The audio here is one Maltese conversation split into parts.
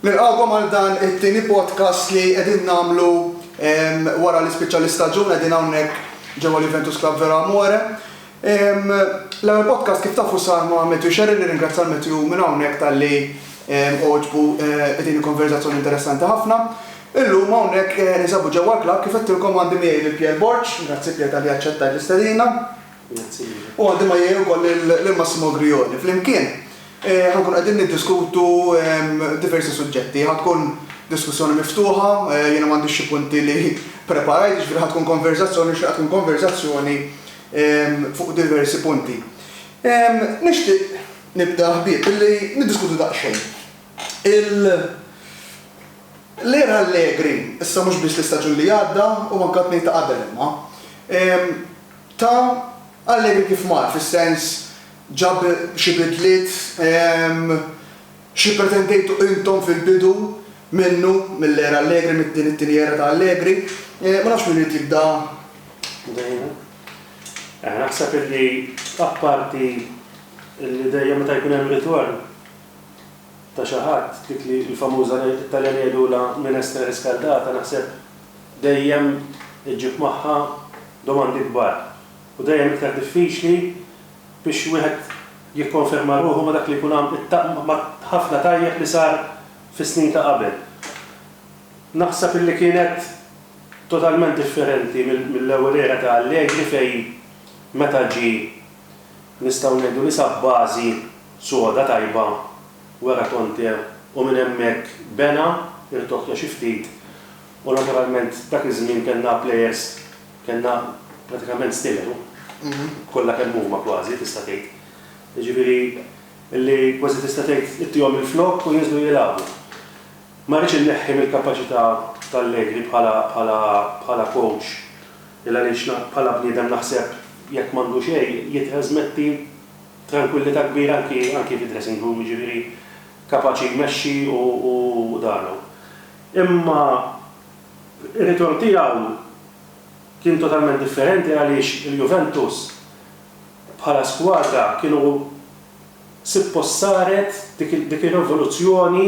Nilqgħukom għal dan it-tieni podcast li qegħdin nagħmlu wara li spiċċa l-istaġun, qegħdin hawnhekk ġewwa l-Juventus Club Vero Amore. L-ewwel podcast kif tafu sar ma' Matthew Scerri, nirringrazzja l-Matthew minn hawnhekk talli għoġbu din il-konverżazzjoni interessanti ħafna. Illum hawnhekk ninsabu ġewwa l-klabb kif għedtilkom għandi miegħi lil Pierre Borg, grazzi Pierre talli aċċettajt l-istedina. U għandi ma' jgħi wkoll lil Massimo Grioni. Flimkien ħankunu qegħdin niddiskutu diversi suġġetti. Ħa tkun diskussjoni miftuħa, jiena m'għandix xi punti li preparajt, jiġifieri ħa tkun konverżazzjoni, nixtieqha tkun konverżazzjoni fuq diversi punti. Nixtieq nibda ħbieb billi niddiskutu daqsxejn il l-era allegri, issa mhux biss l-istaġun li għadda u anke t-tnejn ta' qabel imma. Ta' għalliemi kif mar, fis-sens, ġab xi bidliet? Xi pretendejtu intom fil-bidu minnu, mill-era Allegri, mid-din it-tieni era ta' Allegri? Ma nafx min irid jibda. Naħseb illi apparti illi dejjem meta jkun hemm ritorn ta' xi ħadd, dik li l-famuża, it-Taljan jgħidulha minestra riscaldata, naħseb dejjem iġġib magħha domandi kbar u dejjem iktar diffiċli biex wieħed jikkonferma ruħu ma' dak li jkun ma' ħafna tajjeb li sar fis-snin ta' qabel. Naħseb illi kienet totalment differenti mill-ewwel era ta' Allegri fejn meta ġie nistgħu ngħidu li sab bażi soda tajba wara Conte u minn hemmhekk bena, irtoħtoħ xi ftit u naturalment dak iż-żmien kellna plejers, kellna pratikament stilel kollha kemm huma kważi tista' tgħid. Jiġifieri li kważi tista' tgħid ittihom il-flokk u jinżlu jilagħbu. Ma rridx inneħħi mill-kapaċità t'Allegri bħala bħala bħala coach il-għaliex bħala bniedem naħseb jekk m'għandu xejn jittrażmetti Trankwillità kbira anki anki fid-dressing room, jiġifieri kapaċi jmexxi u u dan u. Imma r-ritorn tiegħu kien totalment differenti għaliex il-Juventus bħala skwadra kienu sippost saret dik dik ir-revoluzzjoni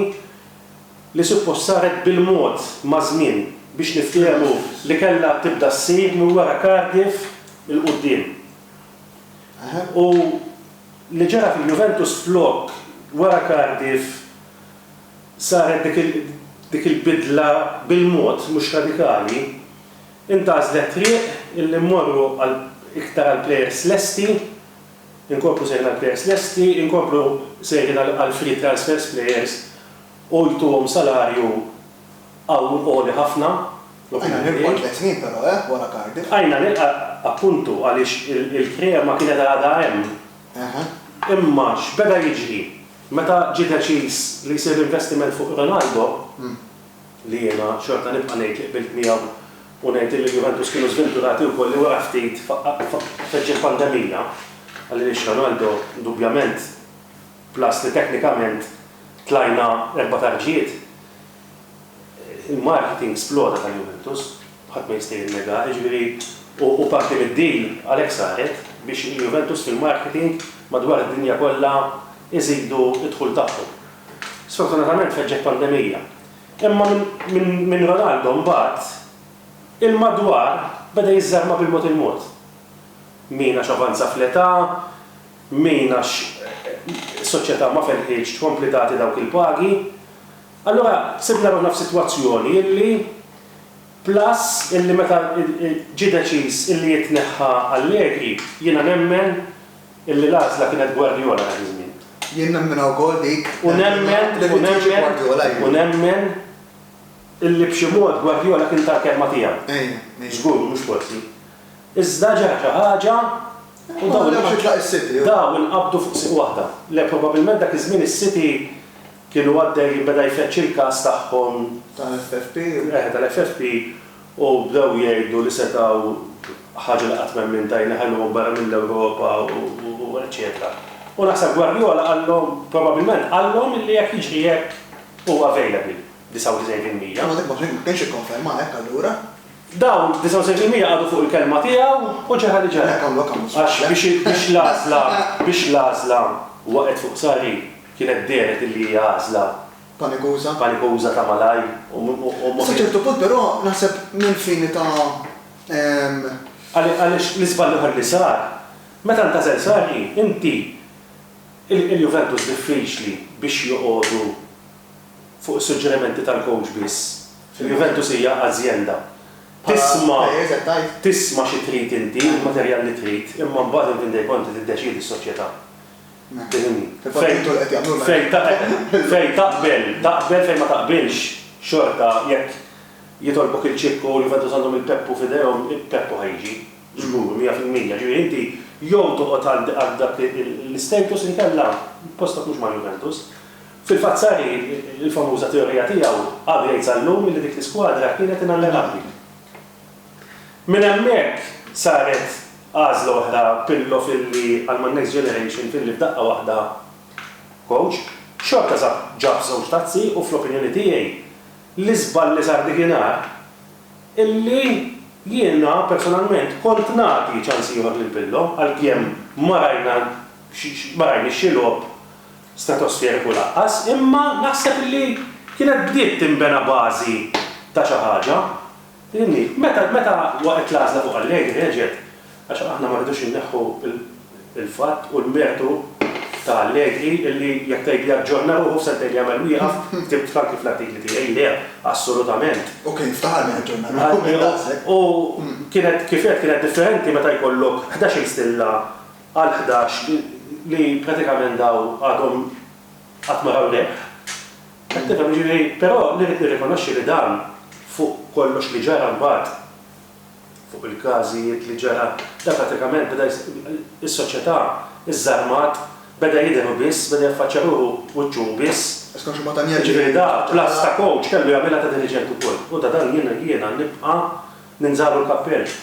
li sippost saret bil-mod maż-żmien biex niftehmu li kellha tibda ssir minn wara Cardiff 'il quddiem. U li ġara fil-Juventus flok wara Cardiff saret dik il-bidla bil-mod, mhux radikali, intgħażlet triq illi mmorru għal iktar għal plejers lesti, inkomplu sejrin għal plejers lesti, inkomplu sejrin għal free transfers plejers u jtuhom salarju qawwi għoli ħafna u kien hemm irqwa tliet snin però eh wara Cardiff. Bqajna nirqa appuntu għaliex il-krema kienet għadha hemm. Imma x'beda jiġri? Meta ġie deċiż li jsir investiment fuq Ronaldo, li jiena xorta nibqa' ngħid li qbilt miegħu u ngħid illi l-Juventus kienu żventurati wkoll li wara ftit feġġet pandemija, għaliex Ronaldo indubjament, Plus li teknikament tlajna erba' tarġijiet. Il-marketing sploda ta' Juventus, ħadd ma jista' jinnegaha, jiġifieri u parti mid-deal għalhekk saret biex il-Juventus fil-marketing madwar id-dinja kollha jżidu d-dħul tagħhom. Sfortunatament feġġet pandemija. Imma minn Ronaldo mbagħad il-madwar beda jiżżarma bil-mod il-mod. Min għax avanza fl-età, min għax is-soċjetà ma felħitx tkompli tagħti dawk il-pagi, allura sibna ruħna f'sitwazzjoni illi plus illi meta ġie deċiż illi jitneħħa Allegri, jiena nemmen illi l-għażla kienet Guardiola dak iż-żmien. Jien nemminha wkoll dik, nemminha li rrid jiġi Guardiola jien. U nemmen illi b'xi mod Guardiola kien ta l-kelma tiegħu. Żgur, mhux forsi. Iżda ġara xi ħaġa U dawn inqabdu fuq is-siti. Dawn inqabdu fuq is-siti. Dawn inqabdu fuq siti waħda. Le, probabbilment dak iż-żmien is-siti kienu għaddej beda jfeġġ il-każ tagħhom. Tal-FFP. Eħe, tal-FFP u bdew jgħidu li setgħu ħaġa li qatt m'hemm min ta jneħħeluhom barra mill-Ewropa u eċċetera. U naħseb Guardiola qallhom, probabbilment qallhom illi jekk jiġri hekk huwa available 99%. Imma dak ma kienx ikkonferma hekk allura? Dawn 79 mija qagħdu fuq il-kelma tiegħu u ġara li ġara. Għax biex l-għażla, biex l-għażla waqgħet fuq Sarri, kienet dehret illi hija għażla. Panikuża. Panikuża ta' malajr u mhux. Sa ċertu punt però naħseb mill-fini ta'. Għaliex l-iżball l-ieħor li sar, meta ntgħażel Sarri, inti il-Juventus diffiċli biex joqogħdu fuq is-suġġerimenti tal-coach biss. Fil-Juventus hija azjenda. Tisma' tisma' xi trid inti, il-materjal li trid, imma mbagħad inti dej konti tiddeċiedi s-soċjetà. Tifhimni? Fejn taqbel fejn taqbel taqbel fejn ma taqbilx xorta jekk jitolbok il-ċikk u l-Juventus għandhom il-Peppu f'idejhom, il-Peppu ħa jiġi. Żgur, mija fil-mija. Ġifieri inti jew toqgħod għal dak l-istatus inkella postok mhux mal-Juventus. Fil-fatt Sarri, il-famuża teorija tiegħu, għadu jgħid sal-lum li dik l-iskwadra kienet inallenabbli. Minn hemmhekk saret għażla oħra Pirlo filli għal man next generation filli f'daqqa waħda coach. Xorta sab ġab żewġ tazzi u fl-opinjoni tiegħi l-iżball li sar dik inhar illi jiena personalment kont nagħti ċans ieħor lil Pirlo għalkemm ma rajna ma rajniex xi logħob stratosferiku lanqas, imma naħseb li kienet bdiet tinbena bażi ta' xi ħaġa. Fhimni? Meta, meta waqgħet l-għażla fuq Allegheny reġgħet, għax aħna ma rridux inneħħu l-fatt u l-mertu ta' Allegri li jekk tgħidli aġġorna ruħu f'sentejn jagħmel wieqaf, ktibt f'anki fl-artikli tiegħi, le, assolutament. U kien ftaħar li jaġġorna ruħu minn daqshekk. U kienet, kif għedt, kienet differenti meta jkollok ħdax-il stilla għal ħdax li pratikament dawn għadhom qatt ma raw rebħ. Qed tifhem? Jiġifieri, però li rrid nirrikonoxxi li dan fuq kollox li ġara mbagħad fuq il-każijiet li ġara, dan pratikament beda is-soċjetà żżarmat, beda jidher hu biss, beda jaffaċċja ruħu wiċċu hu biss. Jiġifieri da bl-għażż ta' kowċ kellu jagħmilha ta' diriġent ukoll. U ta' dan jiena nibqa' ninżagħlu l-kappell.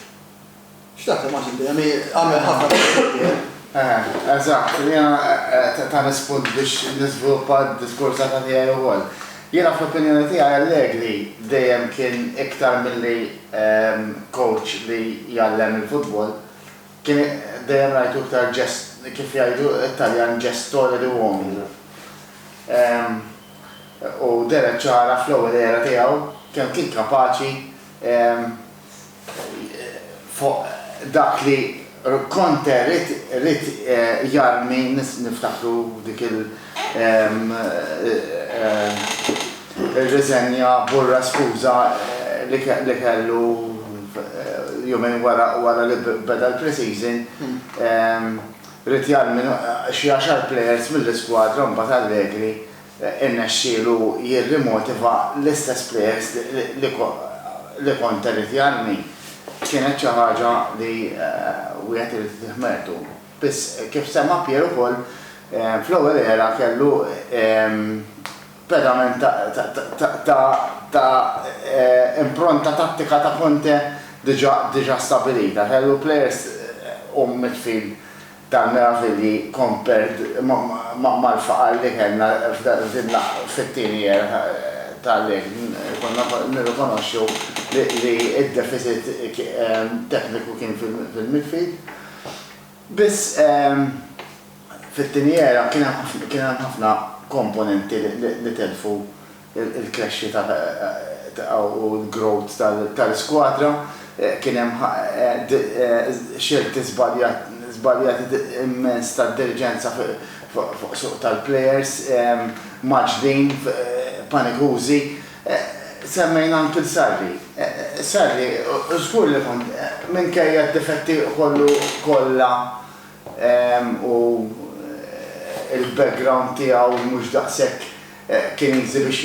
Xtaqt immaġni li hemm għamel ħafna taqsir. Eh, eżatt, jiena eh, ta' nispund biex niżviluppa d-diskors ta' tiegħi wkoll. Jiena fl-opinjoni tiegħi Allegri dejjem kien iktar milli ehm, coach li jgħallem il-futbol, kien dejjem rajtu iktar ġest, kif jgħidu t-Taljan ġestore di uomini. Ehm, u deret ċara fl-ewwel era tiegħu kemm kien kapaċi ehm, fuq dak li Conte ried jarmi niftakru dik il riżenja burra skuża li kellu jumejn wara li beda l-pre-season ried jarmi xi għaxar players mill-iskwadra u mbagħad Allegri irnexxielu jirrimotiva l-istess plejers li kont irrid jarmi kienet xi ħaġa li wieħed irid itih mertu. Biss, kif semma Pierre ukoll, fl-ewwel era kellu pedament ta' impronta tattika ta' Conte diġà stabilita. Kellu plejers u midfield Dan meravilji compared mal-faqar li kellna fit-tieni year ta' li konna nirrikonoxxu li d-deficit tekniku kien fil-midfield. Biss fit-tieni year kien hemm ħafna komponenti li telfu il-krexxita u l-growth tal-iskwadra, kien hemm xelti żbaljati immens tad-diriġenza fuq suq tal-plejers, mgħaġġlin, panikużi. Semmejna anki 'l Sarri. Sarri żgur li kont, minkejja d-difetti kollu kollha u l-background tiegħu mhux daqshekk Kien easy biex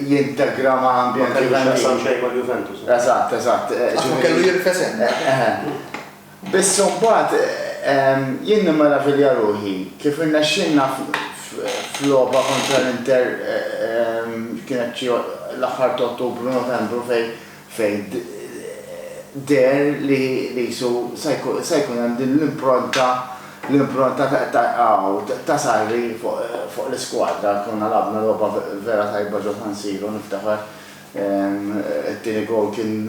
jintegra ma' ambjent Juventin. Ma kellu x'jaqsam xejn mal-Juventus. Eżatt, eżatt. Qatt ma kellu jirfes hemm. Biss imbagħad jien nimmeravilja ruħi kif irnexxielna f'logħba kontra l-Inter kienet xi l-aħħar t'Ottubru, Novembru fejn fejn deher li qisu se jkun hemm din l-impronta l-impronta ta' qaww ta' Sarri fuq l-iskwadra. Konna lagħabna logħba vera tajba ġo San Siro niftakar it-tieni gowl kien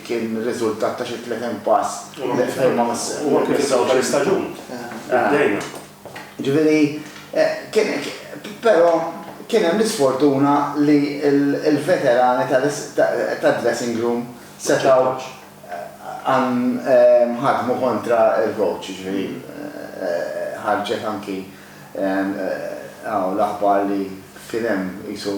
kien riżultat ta' xi 30 pass li ma missewx. Huwa kien fl-aħħar istaġun. Bdejna. Jiġifieri, però kien hemm l-isfortuna li l-veterani tad-dressing room setgħu ħadmu kontra l-coach, jiġifieri ħarġet anki hawn l-aħbar li kien hemm qisu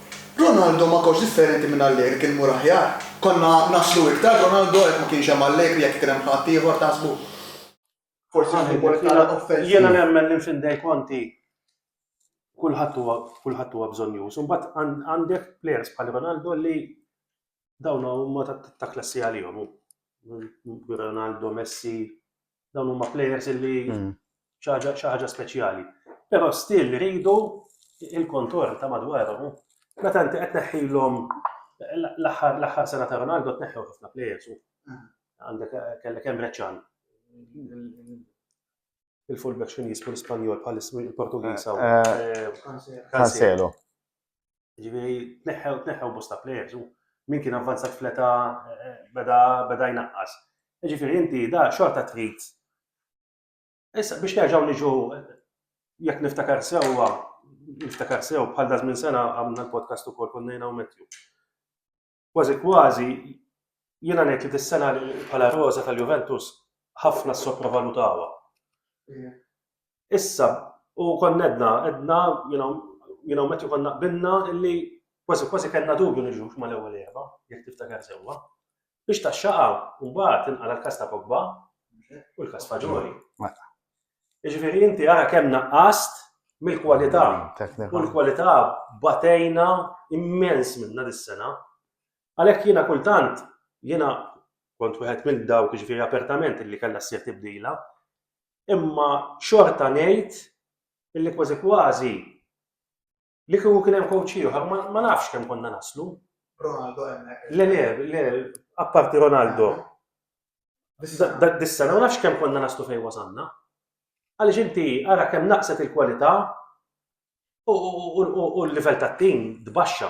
Ronaldo ma kotx differenti minn Allegri kien imur aħjar? Konna naslu iktar b'Ronaldo jekk ma kienx hemm Allegri jekk ikun hemm ħadd ieħor taħsbu? Forsi għandi l-wol iktar offensiv. Jiena nemmen li mfin Dei Conti kulħadd huwa kulħadd huwa bżonnjuż. Imbagħad għandek plejers bħal Ronaldo li dawn huma ta' klassi għalihom. Ronaldo, Messi, dawn huma players li hmm. xaħġa speċjali. Pero still rridu il-kontor ta' madwarhom. Meta inti qed neħħilhom l-aħħar l-aħħar sena ta' Ronaldo tneħħew ħafna players. Għandek kellek hemm Reċan. Il-fullback x'in jismu l-Ispanjol bħal il-Portugiż. Eh, eh, eh, Cancelo. Ġifieri tneħħew tneħħew bosta plejers u min kien avvanzat fleta eh, beda beda jnaqqas. Ġifieri inti da xorta trid. Issa biex nerġgħu niġu jekk niftakar sewwa, niftakar sew bħal daż minn sena għamna l-podcast ukoll konnejna u Matthew. Kważi kważi jiena ngħid li dis-sena bħala roża tal-Juventus ħafna ssopravalutawha. Issa, u konna għedna, għedna, you know, you know, meta konna qbilna illi kważi kważi kellna dubju niġu mal-ewwel erba, jekk tiftakar sewwa. Biex taxxaqa, mbagħad inqala l-kas ta' Pogba u l-kas Faġoli. Jiġifieri inti ara kemm naqqast mill-kwalità. U l-kwalità batejna immens minna dis-sena. Għalhekk jiena kultant jiena kont wieħed minn dawk jiġifieri apertament illi kellha ssir tibdila, imma xorta ngħid illi kważi kważi Li kieku kien hemm coach ieħor ma nafx kemm konna naslu. Ronaldo hemmhekk. Le le, le, apparti Ronaldo. Dak dis-sena ma nafx kemm konna naslu fejn wasanna. Għaliex inti ara kemm naqset il-kwalità u l-livell tat-tim tbaxxa.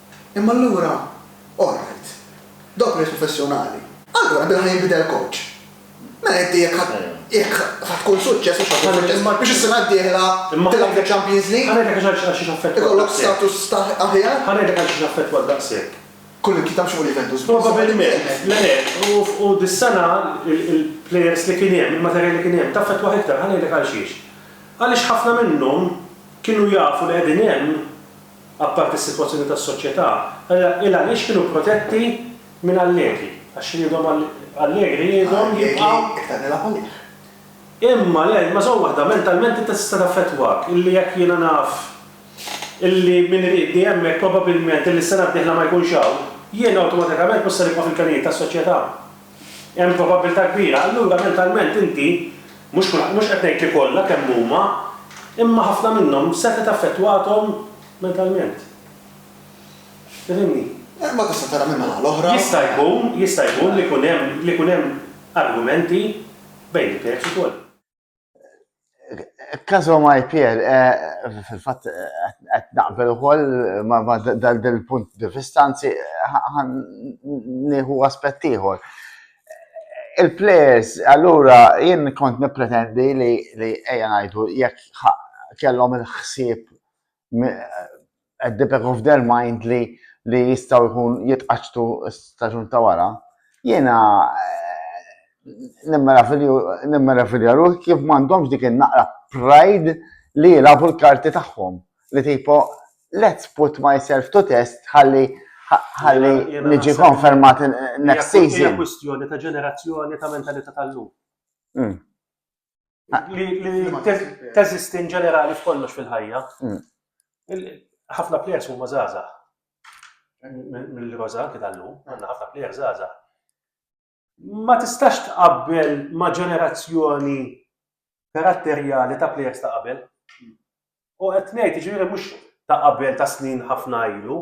Imma allura, alright, dawk nies professjonali. Allura bil-ħa jinbidel coach. Mela inti jekk ħa jekk ħa tkun suċċess mhux ħa tkun suċċess biex is-sena d-dieħla tilgħab fil-Champions League. Ħa ngħidlek għax għal xiex affettwat. Ikollok status ta' aħjar. Ħa ngħidlek għal xiex affettwat daqshekk. Kull imkien ta' mhux fuq Juventus biss. Probabbilment. Le le, u dis-sena l-players li kien hemm, il-materjal li kien hemm, taffettwah iktar, ħa ngħidlek għal xiex. Għaliex ħafna minnhom kienu jafu li qegħdin hemm. apparti s-sitwazzjoni tas-soċjetà, allura il-għaliex kienu protetti minn Allegri? Għax ridhom Allegri ridhom jibqgħu. Imma le, imma żomm waħda, mentalment inti tista' taffettwak illi jekk jiena naf illi min iriedni hemmhekk probabbilment illi s-sena d-dieħla ma jkunx hawn, jiena awtomatikament mhux se nibqa' fil-kanijiet tas-soċjetà. Hemm probabbiltà kbira, allura mentalment inti, mhux kulħadd, mhux qed ngħid li kollha kemm huma, imma ħafna minnhom setgħet affettwathom mentalment. Tifhimni? Imma tista' tara min-naħa l-oħra. Jista' jkun, jista' jkun li jkun hemm, li jkun hemm argumenti bejn il-klients ukoll. Kazo ma jpier, eh, fil-fat, għet naqbel u koll ma dal-punt di fistanzi, għan nieħu aspettiħor. Il-players, allura, jien kont nipretendi li ejja najdu, jek kellhom il-ħsieb at the back of their mind li li jistaw jkun jitqaċtu staġun ta' wara, jiena nemmela filja ruħ kif m'għandhomx dik in-naqra pride li jilabu l-karti tagħhom. Li tipo, let's put myself to test ħalli ħalli niġi konfermat next season. Hija kwistjoni ta' ġenerazzjoni ta' mentalità tal-lum. Mm. Li teżisti in ġenerali f'kollox fil-ħajja. Mm. Ħafna players huma żgħażagħ. Mill-roża anke tal-lum, għandna ħafna players żgħażagħ. Ma tistax tqabbel ma' ġenerazzjoni karatterjali ta' players ta' qabel. U qed ngħid, jiġifieri mhux ta' qabel ta' snin ħafna ilu,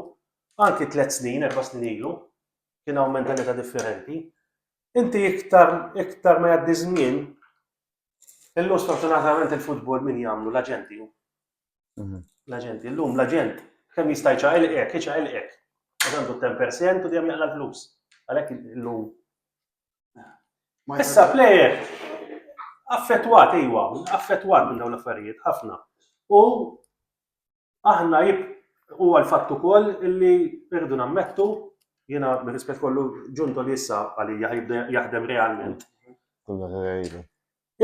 anki tliet snin, erba' snin ilu, kien hawn mentalità differenti. Inti iktar iktar ma jgħaddi żmien, illum sfortunatament il-futbol min jagħmlu l-aġenti. Mhm. L-aġenti, illum l-aġent kemm jista' jċaqilqek, iċaqilqek. Għandu 10% u dejjem jaqla l-flus. Għalhekk illum. Issa plejer affettwat iwa, affettwat minn dawn l-affarijiet ħafna. U Aħna jib huwa l-fatt ukoll illi rridu nammettu jiena bir-rispett kollu ġunto li issa għalija jibda jaħdem realment.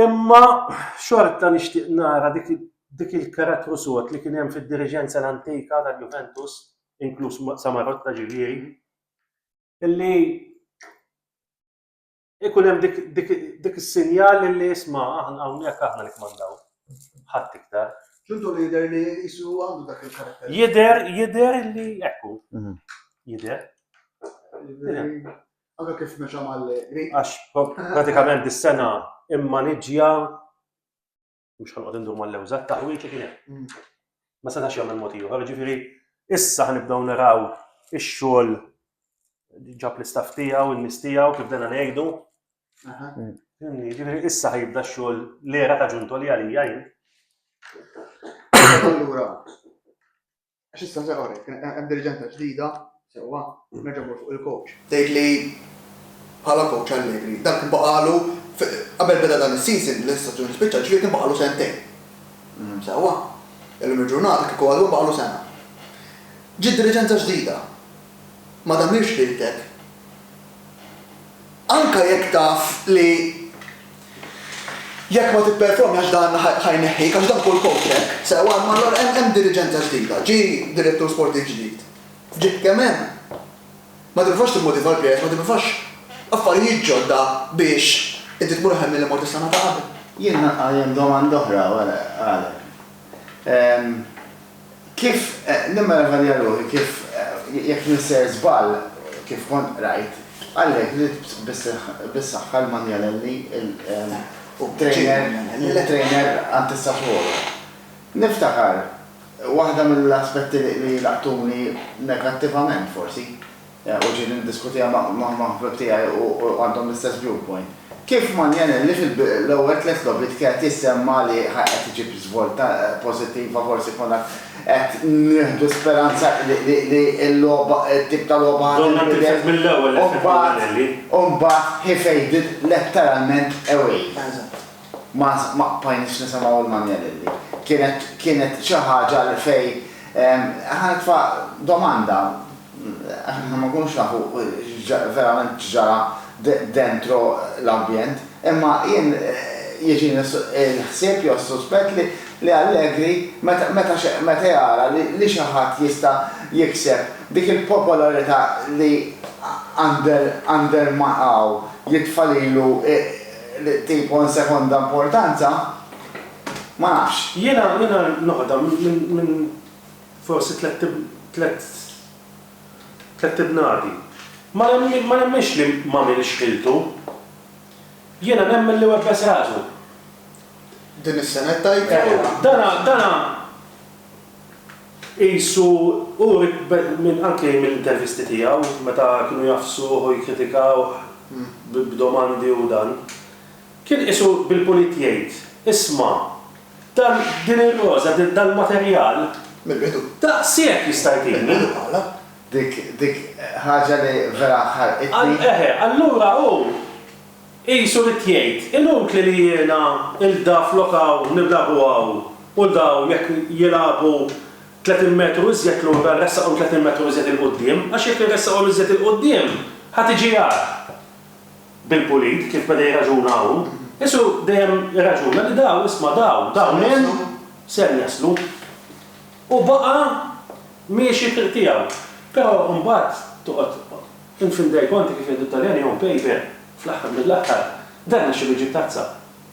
Imma xorta nixtieq nara dik il-karattru sod li kien hemm fid-diriġenza l-antika tal-Juventus, inkluż Samarotta ġifieri, illi ikun hemm dik, dik, dik is-sinjal li isma' aħna hawnhekk aħna li kmandaw. Ħadd iktar. Ġuntu li jidher li jisu għandu dak il-karakter. Jidher, jidher li ekku. Mhm. Jidher. Anka kif meċa mal-Għax pratikament is-sena immaniġja Mhux ħanqod indur mal-lewża, taħwieġ li kien hemm. Ma setax jagħmel mod ieħor, ġifieri issa ħnibdew naraw ix-xogħol ġab l-istaff tiegħu, in-nies tiegħu kif dena ngħidu. Ġifieri issa ħajibda x-xogħol l-era ta' ġunto li għalija jien. Allura, Għax issa se orek, hemm diriġenta ġdida, sewwa, nerġa' mmur fuq il-coach. Tgħid li bħala coach Allegri, dan kien baqagħlu qabel beda dan is-season, li issa ġieli spiċċa, ġifieri kien baqagħlu sentejn. Sewwa? Illum il-ġurnata kieku għadu baqagħlu sena. Ġiet diriġenza ġdida. ma tagħmilx liltek, anke jekk taf li jekk ma tipperformi għax dan ħa jneħħik, għax dan kull kowċ hekk, sewwa, imma allura hemm hemm diriġenza ġdida, ġie direttur sportiv ġdid, ġiet kemm hemm. Ma tipprovax timmotiva l-plejers, ma tipprovax affarijiet ġodda biex inti tmur aħjar milli mort is-sena ta' qabel. Jien naqajjem domanda oħra wara għalek. Kif, nimmel aħalija ruħi kif, jekk nisser żball, kif kont qrajt, għalhekk ridt bis-saħħa l-Manjalelli u t-trainer għand is-Sassuolo. Niftakar, waħda mill-aspetti li laqtuni negattivament forsi, u ġieli niddiskutiha ma' ħbieb tiegħi u għandhom l-istess viewpoint. Kif Manielinelli fil-ewwel tliet logħbiet kienet jissemma li qed iġib żvolta pożittiva forsi konna qed nieħdu speranza li l-logħba t-tip ta' logħba ħa tinbidel u mbagħad u mbagħad he faded letteralment away. Ma ma bqajniex nisimgħu lil Manielinelli. Kienet kienet xi ħaġa li fejn ħa nitfa' domanda, Aħna ma nkunux nafu verament x'ġara dentro l-ambjent, imma jien jiġini l-ħsieb jew s-suspett li Allegri meta jara li xi ħadd jista' jikseb dik il-popolarità li Ander Milao jitfa' lilu tipo in seconda importanza, ma nafx. Jiena noħda minn Forsi tlett tlett tlett ibnadi. Ma ma nemminx li m'għamilx ħiltu. Jiena nemmen li webbes rasu. Din is-sena qed tgħid? Eħe. Dana dana qisu uri minn anke mill-intervisti tiegħu meta kienu jgħaffsuh u jikkritikawh b'domandi u dan. Kien qisu bil-pulit jgħid, Isma', dan, din ir-roża, dal-materjal. Mill-bidu. Daqshekk jista' jtini. Mill-bidu bħala. Dik, dik ħaġa li vera ħarqitni. Eħe, allura hu qisu ried jgħid, inutli li jiena 'l da flok hawn niblagu hawn u daw jekk jilagħbu tletin metru iżjed lura nressaqhom tletin metru iżjed 'il quddiem għax jekk inressaqhom iżjed 'il quddiem ħa tiġi agħar. bil-pulit, kif beda jirraġuna hawn, Ġesù dejjem irraġuna li daw, isma' daw, dawn hemm, ser jaslu. U baqa' miexi t-triq tiegħu. Però imbagħad toqgħod infindejk konti kif jgħidu t-Taljan jew impeper, fl-aħħar mill-aħħar, dan għax ilu jġib tazza.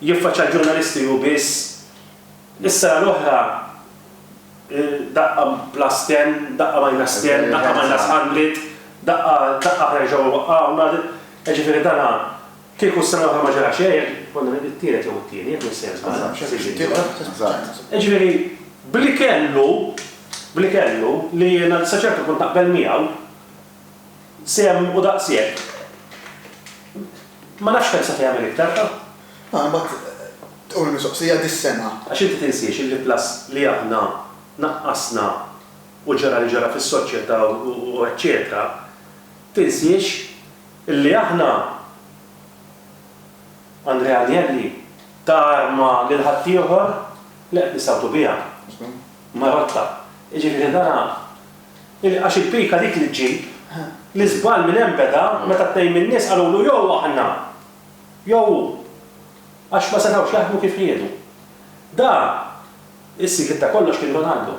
Jiffaċċja l-ġurnalisti hu biss. Is-sena l-oħra daqqa plus ten, daqqa minus ten, daqqa minus hundred, daqqa daqqa aħna nerġgħu iwaqqgħuna, jiġifieri dan kieku s-sena l-oħra ma ġara xejn, konna t-tielet jew it-tieni, jekk m'iniex se niżball. Jiġifieri b'li kellu, b'li kellu, li jiena sa ċertu punt naqbel miegħu, Sehem u daqshekk. Ma nafx kemm se tagħmel iktar, ha? Ah, imbagħad tqum il-mistoqsija dis-sena. Għax inti tinsiex illi plus li aħna naqqasna u ġara li ġara fis-soċjetà u eċċetera, tinsiex illi aħna, Andrea Agnelli, ta arma lil ħaddieħor li qed nistgħu biha. Marotta. Jiġifieri dan Għax il-pika dik li ġġib. L-iżball minn hemm beda meta tnejn min-nies qalulu jew aħna jew hu. Għax ma setgħux jaħdmu kif riedu. Dan is-sigriet ta' kollox kien Ronaldo.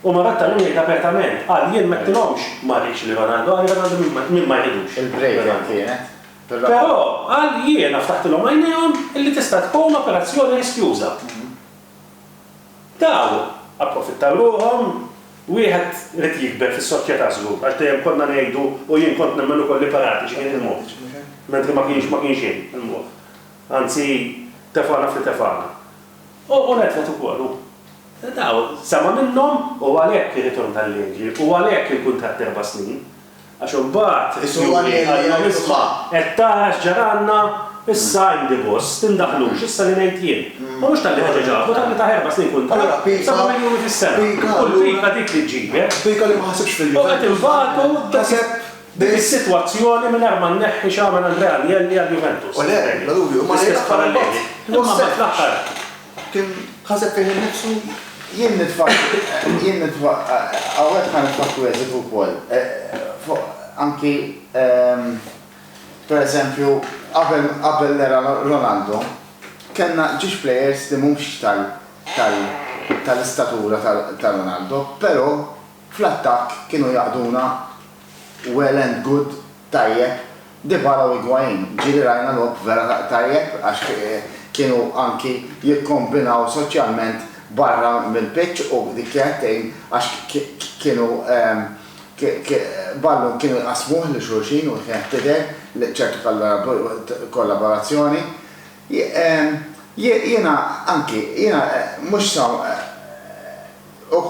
U ma betta llum jgħid apertament, qal jien m'għedtilhomx ma rridx lil Ronaldo, qal li Ronaldo min ma jridux. Il-break hemm kienet. Però qal jiena ftaħtilhom għajnejhom illi tista' tkun operazzjoni riskjuża. Taw, approfittaw ruħhom, wieħed irid jikber fis-soċjetà żgur, għax dejjem konna ngħidu u jien kont nemmen ukoll li Paratiċi kien il-mod, mentri ma kienx ma kienx hemm il-mod. Anzi, tefgħana f'li tefgħana. U Nedved ukoll hu. Taw, sema' minnhom u għalhekk ir-ritorn tal-leġi u għalhekk il-kuntratt erba' snin. Għax imbagħad is-Sinjuri qalilhom isma' qed tara x'ġaralna, issa għindi gost, tindaħlux, issa li ngħid jien. Ma mhux talli ħeġeġ Abu, talli ta erba' snin kuntratt, seba' miljuni fis-sena. U l-pika dik li ġġibek. U qed inbagħtu dik is-sitwazzjoni mingħajr ma nneħħi x'għamel Andrea Agnelli għal Juventus. L-istess paralleli. Imma mbagħad fl-aħħar. Kien ħaseb fih innifsu, Jien nidfaq, jien nidfaq, hawnhekk ħa nidfaq kwiezit ukoll, fuq anki, per eżempju, qabel, qabel l-era Ronaldo, kellna ġiex players li mhumx tal, tal, tal-istatura ta' Ronaldo, però, Fl-attakk kienu jaqduna well and good, tajjeb, Dybala u Higuain. Ġieli rajna logħob vera tajjeb għax kienu anki jikkombinaw soċjalment barra mill-pitch u dik kienet tgħin għax kienu ballun kienu jqassmuh lil xulxin u kienet tidher li ċertu kollaborazzjoni. Jiena anki, jiena mhux sa u.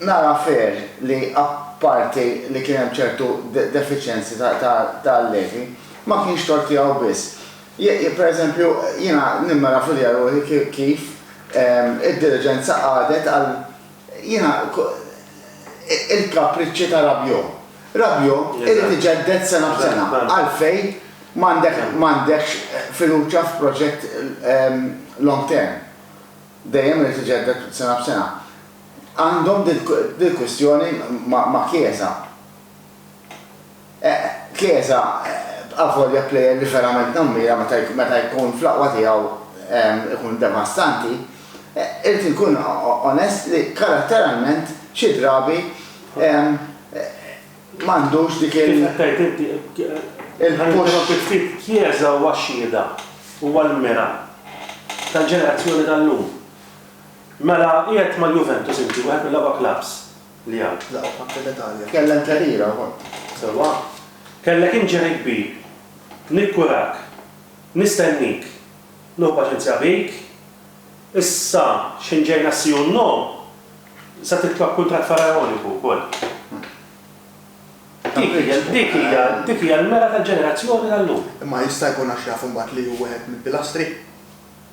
Nara fair li apparti li kien hemm ċertu defiċjenzi ta' Levi, ma kienx tort tiegħu biss. Pereżempju, jiena nimmeravulja ruħi kif id-diriġenza qagħdet għal, jiena, il-kapriċċi ta' Rabiot. Rabiot irid iġedded sena b'sena. Għalfejn m'għandekx fiduċja f'proġett long term? Dejjem irid iġedded sena b'sena. Għandhom dil-kwistjoni ma' Chiesa. Chiesa, avolja plejer li verament nammira meta jkun fl-aqwa tiegħu ikun devastanti, irid inkun onest li karatteralment xi drabi m'għandux dik il-. Kif qed tgħid inti, ħa ninterrompik ftit, Chiesa huwa x-xhieda, huwa l-mira tal-ġenerazzjoni tal-lum. Mela qiegħed mal-Juventus inti, wieħed mill-aqwa klabbs li hawn. L-aqwa klabb tal-Italja. Kellha interiera wkoll. Sewwa. Kellek injury kbir. Nikkurak. Nistennik. Nieħu paċenzja bik. Issa x'ħin ġej nassi u no, se titlob kuntratt faraoniku wkoll. Dik hija, dik hija l-mera tal-ġenerazzjoni tal-lum. Imma jista' jkun għax jaf imbagħad li hu wieħed mill-pilastri?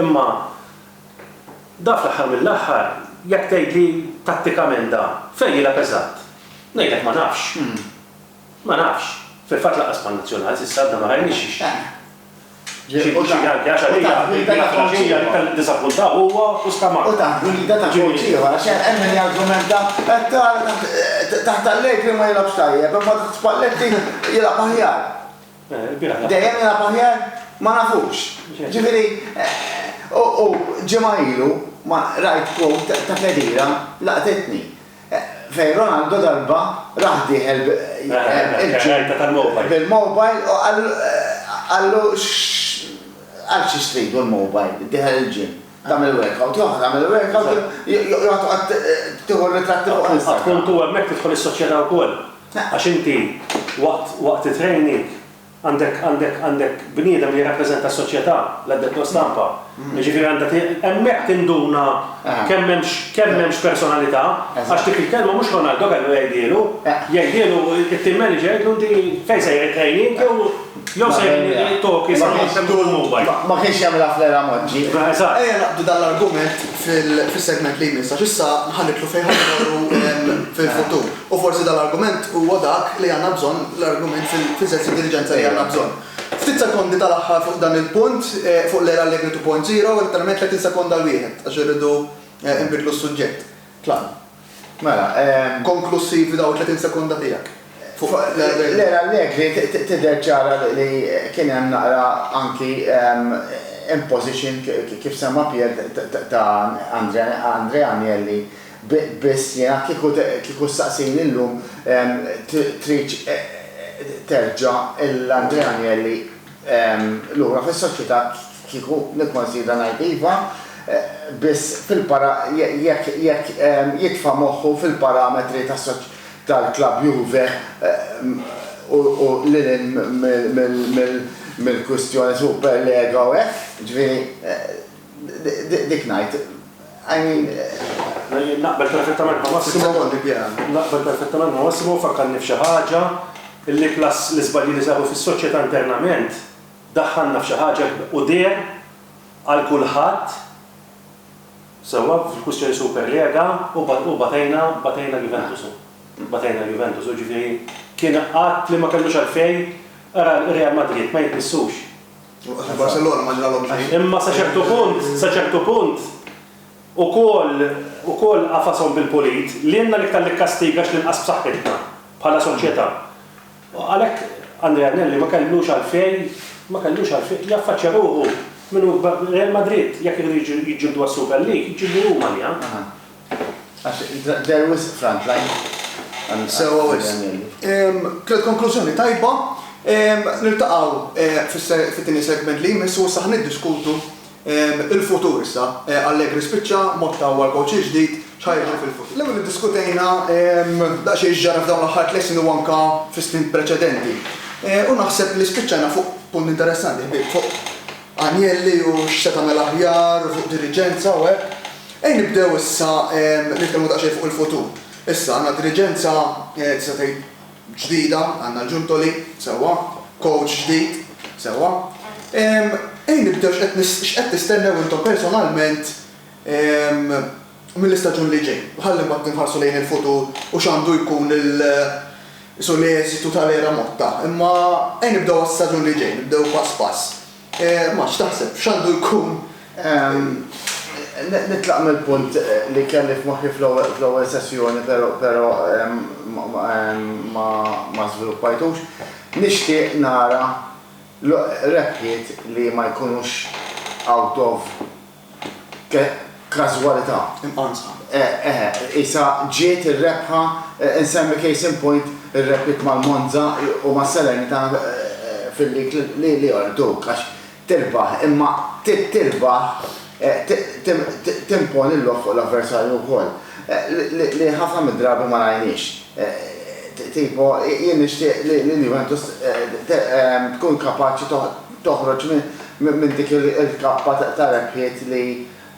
Imma da fl-aħħar mill-aħħar, jekk tgħidli tattikament da fejn jilgħab eżatt, ngħidlek ma nafx. Ma nafx. Fil-fatt lanqas man-Nazzjonal s'issa għadna ma rajniex xi xi xi anke għax għalija hija li kelli ddiżappunta huwa u Scamacca. U taħt gwida ta' kowċ ieħor għax hemm min jargumenta hekk ara taħt Allegri ma jilgħabx tajjeb imma taħt Spalletti jilgħab aħjar. Dejjem jilgħab aħjar? Ma nafux. Ġifieri, u ġimgħa ilu rajt quote ta' Khedira laqtitni. Fejn Ronaldo darba rah dieħel bil-mobile u qallu għal xiex tridu l-mobile, dieħel il-gym. Tagħmel workout, joħroġ jagħmel workout, joqgħod toqgħod tieħu r-ritratti fuq Instagram. Fil-fatt tkun tu hemmhekk tidħol is-soċjetà wkoll. Għax inti waqt waqt it-training għandek għandek għandek bniedem li jirrappreżenta s-soċjetà, l-addetto stampa. Jiġifieri għandha ti hemmhekk tinduna kemm hemmx kemm hemmx personalità, għax dik il-kelma mhux Ronaldo kellu jgħidhielu. Jgħidhielu it-team manager jgħidlu inti fejn sejjer it-training jew Jew se jittoki sa mhux se jkun mobile. Ma kienx jagħmilha fl-era Moġġi. Eżatt. Ejja naqbdu dan l-argument fis-segment li jmiss għax issa ħa nidħlu fejn ħa mmorru fil-futur. U forsi dan l-argument huwa dak li għandna bżonn, l-argument fil-sens ta' diliġenza li għandna bżonn. Ftit sekondi tal-aħħar fuq dan il-punt, fuq l-era Allegri 2.0, letteralment 30 sekonda 'l wieħed għax irridu nbiddlu s-suġġett. Tlaqna. Mela, konklussivi daw it-30 sekonda tiegħek. L-era Allegri tidher ċara li kien hemm naqra anki imposition kif semma Pier ta' Andrea Agnelli biss jiena kieku ssaqsini llum tridx terġa' 'l Andrea Agnelli lura fis-soċjetà kieku nikkonsidra ngħid iva biss fil-para jekk jekk jitfa' moħħu fil-parametri tal-klabb Juve u lil hinn mill-kwistjoni Superlega u hekk, jiġifieri. Dik ngħid, I mean. Naqbel perfettament ma' Massimo. Naqbel perfettament ma' Massimo, fakkarni f'xi ħaġa, li plus l-iżbalji li saru fis-soċjetà internament, daħħalna f'xi ħaġa u deher għal kulħadd, sewwa fil-kwistjoni super rega, u batejna, batejna Juventus. Batejna Juventus, jiġifieri kien att li ma kellux għalfejn, ara Real Madrid ma jitmissux. Barcelona ma ġralhom xejn. Imma sa ċertu punt, sa ċertu punt, ukoll, ukoll qafashom bil-pulit, lilna l-iktar nikkastiga x'ninqas b'saħħitna, bħala soċjetà. Għalhekk Andrea Agnelli ma kellux għalfejn, ma kellux għalfejn, jaffaċċja ruħu min hu Real Madrid, jekk iridu jiġġieldu għas-Super League, jiġġieldu huma għaliha. Għax they're wisq front line. Sewwa wisq. Tliet konklużjoni tajba. Niltaqgħu fit-tieni segment li jmiss u issa ħa niddiskutu l-futur issa. Allegri spiċċa, Motta huwa l-coach il-ġdid, x'ħa jiġri fil-futur. L-ewwel iddiskutejna daqsxejn x'ġara f'dawn l-aħħar tliet snin u anke fis-snin preċedenti. U naħseb li spiċċajna fuq punt interessanti ħbieb, fuq Agnelli u x'se tagħmel aħjar u fuq diriġenza u hekk. Ejn nibdew issa nitkellmu daqsxejn fuq il-futur. Issa għandna diriġenza tista' tgħid ġdida, għandna l-Giuntoli, sewwa, kowċ ġdid, sewwa. Ejn nibdew x'qed x'qed tistennew intom personalment mill-istaġun li ġej. U ħalli mbagħad inħarsu lejn il-futur u x'għandu jkun l-eżitu tal-era Motta. Imma ejn nibdew għas-staġun li ġej, nibdew pass pass. Max, x'taħseb, x'għandu jkun? Nitlaq mill-punt li kelli f'moħħi fl-ewwel sessjoni però ma żviluppajtux. Nixtieq nara rebħiet li ma jkunux out of Każwalità imqansa. Eħe, qisha ġiet ir-rebħa, insemmi case in point ir-rebħiet mal-Monza u ma' Salernitana fil-League li jorduk għax tirbaħ imma tirbaħ timponi l-logħob fuq l-avversarju wkoll li ħafna mid-drabi ma rajniex. Tipo, jien nixtieq li l-Juventus tkun kapaċi toħroġ minn dik il-kappa ta' rebħiet li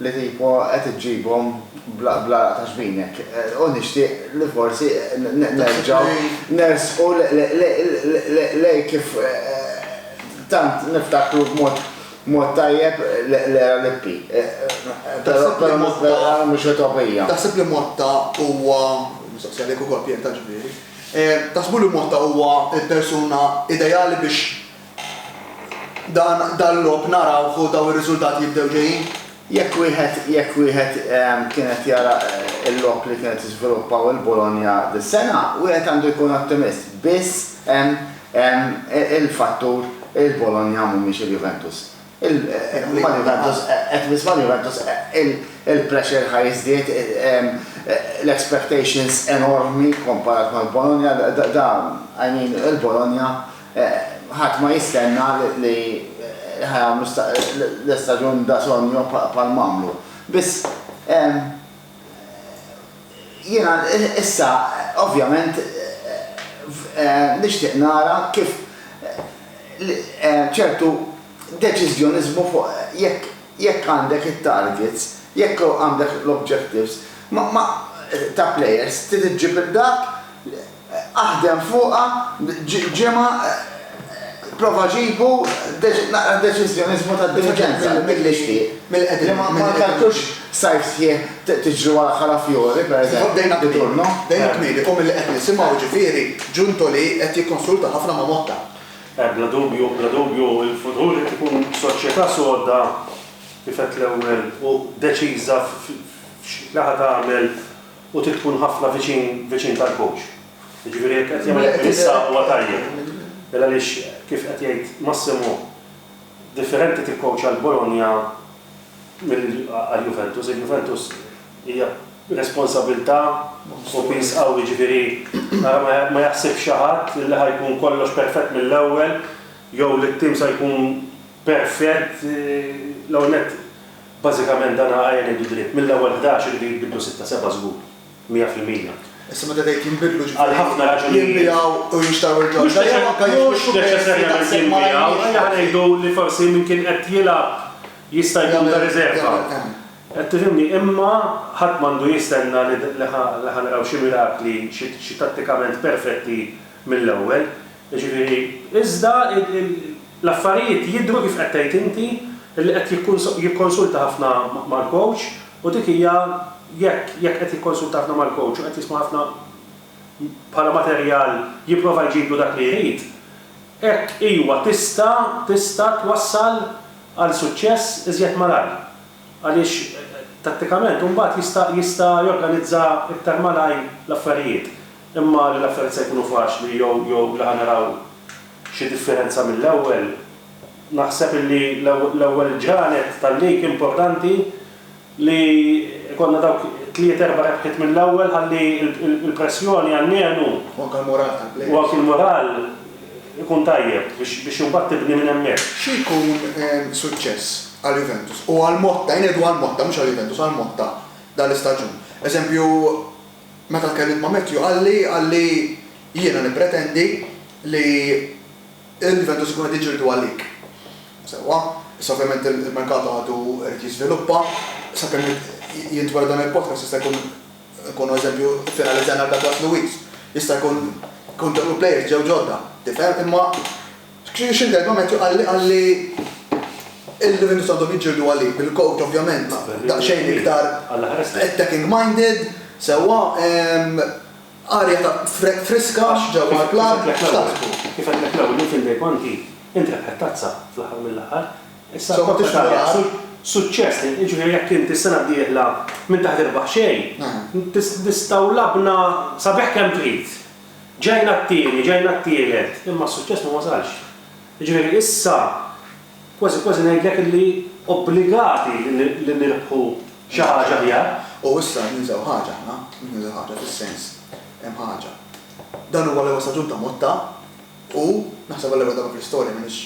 tipo qed iġġibhom bl-għaraq ta' ġbinek u nixtieq li forsi nerġgħu nersqu lejn kif tant niftakru b'mod tajjeb l-era Lippi, però mhux utopija. Taħseb li Motta huwa, mistoqsija lejk ukoll Pier tant ġifieri, taħsbu li Motta huwa l-persuna ideali biex Dan dal-logħob narawh u daw ir-riżultati jibdew ġejjin. Jekk wieħed jekk wieħed kien qed jara l-logħob li kienet jiżviluppaw il-Bologna dis-sena, wieħed għandu jkun ottimist. Biss hemm hemm il-fattur il-Bologna mhumiex il-Juventus. Il huma l-Juventus qed biss mal-Juventus il-pressure ħa jiżdied l-expectations enormi kkomparat mal-Bologna da da I mean il-Bologna Ħadd ma jistenna li ħa jagħmlu l-istaġun da sogno bħal m'għamlu. Biss jiena issa ovvjament nixtieq nara kif ċertu deċiżjoniżmu fuq jekk jekk għandek it-targets, jekk għandek l-objectives ta' plejers trid iġġib lil dak Aħdem fuqha ġimgħa prova ġibu naqra deċiżjoniżmu tad-diriġenza milli xtieq. Li ma kkaltux sajf sħiħ tiġru wara Calafiori, pereżempju, bdejna b'Turnu. Bdejna kmieni u milli qed nisimgħu jiġifieri Giuntoli qed jikkonsulta ħafna ma' Motta. Bla dubju, bla dubju l-futur qed ikun soċjetà soda kif għedt l-ewwel u deċiża f'xi laħa tagħmel. U trid tkun ħafna viċin viċin tal-kowċ. Jiġifieri jekk qed jagħmel hekk issa huwa tajjeb. Għaliex kif qed jgħid Massimo, differenti tikkowċja l-Bologna milli għall-Juventus. Il-Juventus hija responsabbiltà u piż qawwi jiġifieri ara ma jaħsibx xi ħadd li ħa jkun kollox perfett mill-ewwel jew li t-tim sa jkun perfett. L-ewwel nett Bażikament dan għa qegħed ngħidu dritt, mill-ewwel ħdax iridu jinbidlu sitta seba' żgur, mija fil-mija. Issa meta tgħid jinbidlu ġifieri jinbiegħu u jinxtraw il-ġodda jew anke jiġu rikuperati daqshekk malajr kif jiġu? Mhux neċessarjament jinbiegħu, aħjar ngħidu li forsi min kien qed jilgħab jista' jkun ta' riżerva. Qed tifhimni? Imma ħadd m'għandu jistenna li ħa naraw xi mirakli, xi tattikament perfetti mill-ewwel. Jiġifieri, iżda l-affarijiet jidhru kif qed tgħid inti, li qed jikkonsulta ħafna mal-coach u dik hija jekk jekk qed jikkonsulta ħafna mal-coach u qed jisma' ħafna bħala materjal jipprova jġiblu dak li jrid, hekk iwa tista' tista' twassal għal suċċess iżjed malajr. Għaliex tattikament imbagħad jista' jista' jorganizza iktar malajr l-affarijiet. Imma li l-affarijiet se jkunu faċli jew jew li ħa naraw xi differenza mill-ewwel, naħseb illi l-ewwel ġranet tal-lig importanti li jkollna dawk tliet erba' rebħiet mill-ewwel ħalli l-pressjoni almenu U anke l-mural tal-play-offs. U anke l-mural ikun tajjeb biex imbagħad tibni minn hemmhekk. Xi jkun suċċess għal Juventus u għal Motta, jien ngħidu għal Motta mhux għal Juventus, għal Motta dan l-istaġun. Eżempju, Meta tkellimt ma' Matthew qalli qalli jiena nippretendi li l-Juventus ikunu qed jiġġieldu għalik. Sewwa, issa ovvjament il-merkato għadu irid jiżviluppa, sakemm jintweled dan il-podcast jista' jkun nkunu eżempju iffinalizzajna għal Douglas Luiz, jista' jkun tkun ġew il-players ġew ġodda, tifhem, imma. Xi xi darba Matthew qalli qalli il-Juventus għandhom jiġġieldu għalik bil-coach ovvjament daqsxejn iktar attacking minded sewwa arja ta' friska ġewwa l-club x'taħsbu? Kif għedtlek l-ewwel jien f'Inday Ponti int rebħet tazza fl-aħħar mill-aħħar issa l-Coppa Italia suċċess li jiġifieri jekk int is-sena d-dieħla m'inti ħa tirbaħ xejn tistgħu labna sabiħ kemm trid. Ġejna t-tieni, ġejna t-tielet, imma s-suċċess ma wasalx. Jiġifieri issa kważi kważi ngħidlek illi obbligati li nirbħu xi ħaġa aħjar. U issa qed ninsew ħaġa aħna, qed ninsew ħaġa fis-sens, hemm ħaġa. Dan huwa l-ewwel staġun ta' Motta u naħseb għall-ewwel darba fl-istorja m'iniex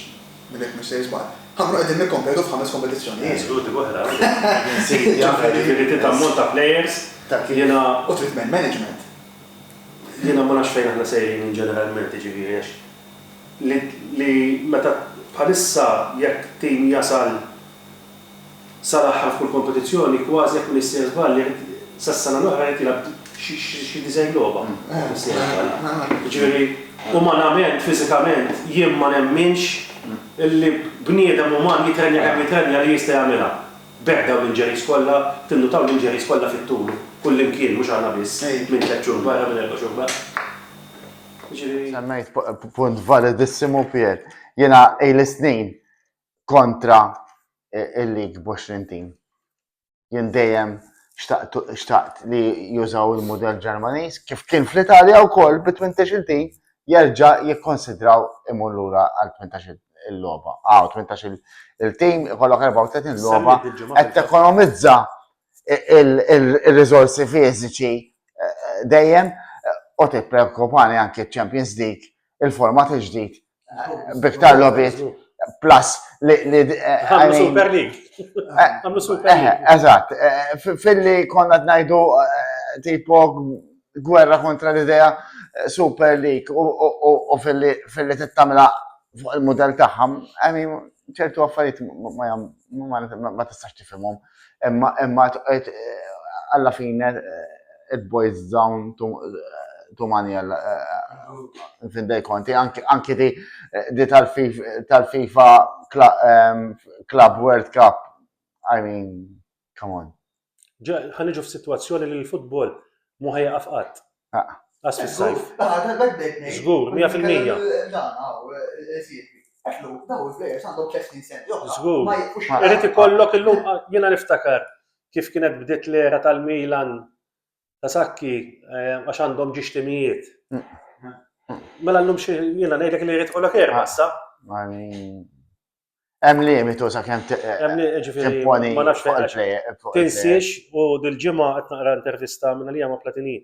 minn hekk missejjes b'għaqli, ħa nkunu qegħdin nikkompetu f'ħames kompetizzjonijiet. Żgur dik oħra. Jiġifieri trid ammont ta' plejers, jiena. U trid man management. Jiena ma nafx fejn aħna sejrin ġeneralment, jiġifieri għax li li meta bħalissa jekk tim jasal sal-aħħar f'kull kompetizzjoni kważi jekk mnissir żball irid sas-sena l-oħra irid jilgħab xi disgħin logħba jekk mnissir żball. Jiġifieri umanament, fiżikament jien ma nemminx illi bniedem uman jitrenja kemm jitrenja li jista' jagħmilha. B'hekk dawn l-injuries kollha, tinnutaw l-injuries kollha fit-tul, kullimkien, mhux aħna biss, minn tliet xhur barra, minn erba' xhur barra. Jiġifieri. Semmejt punt validissimu, Pier. Jiena ili snin kontra il-league b'għoxrin tim. Jien dejjem xtaqt li jużaw il-mudell Ġermaniż, kif kien fl-Italja wkoll bi tmintex-il tim, jerġa' jikkonsidraw imur lura għal tmintax-il logħba. Ah, u tmintax-il il-tim ikollok 34 logħba qed tekonomizza ir-riżorsi fiżiċi dejjem u tippreokkupani anke ċ-Champions League, il-format il-ġdid b'iktar logħbiet plus li. Għamlu Super League. Għamlu Super League. Eżatt, filli konna ngħidu tipo gwerra kontra l-idea eh, super lik u fil-li tittamila fuq il-modell tagħha, għani ċertu affarijiet ma tistax tifhimhom. Imma imma eh, alla fine eh, it boys down to tu manjel eh, findej konti, anki di eh, tal-FIFA ehm, Club World Cup, I mean, Come on. Ġa, ħan iġu f'sitwazzjoni li l-futbol mu ħajqaf qatt. Ah. Għas fis-sajf. Żgur, 100%. Żgur. Irid ikollok illum jiena niftakar kif kienet bdiet l-era tal-Milan ta' sakki eh, għax għandhom ġiex timijiet. Mm. Mela llum xi jiena ngħidlek li jrid ikollok erba' issa. Hemm limitu sakemm timponi ma nafx fuq Tinsiex u dil-ġimgħa qed naqra intervista minn għalija ma' Platini.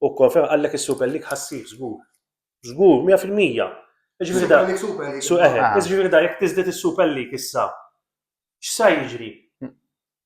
U konferm qallek is-Super League ħassir żgur. Żgur, 100 fil-mija. Jiġifieri da. Jiġifieri da jekk tiżdied is-Super League issa, x'sa jiġri?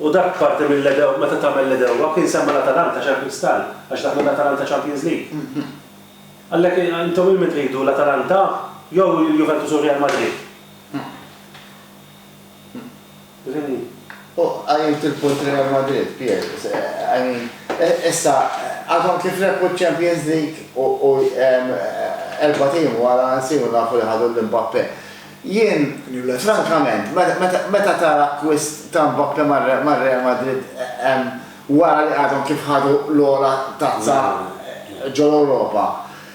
U dak parti mill-Edew, meta tagħmel l-Edewwa, kien semma l-Atalanta xahar Kristall, għax daħlu l-Atalanta Champions League. Għalhekk intom lil min tridu, l-Atalanta jew il-Juventus u r-Real Madrid? U qajjimt il-punt Real Madrid, Pier, I mean, issa għadhom kif rebħu ċ-Champions League u erbat ijiem wara nsiru nafu li ħadu lil Mbappe. Jien, frankament, meta tara akkwist ta' Mbappe mar-Real Madrid wara li għadhom kif ħadu l-ogħla tazza ġol-Ewropa,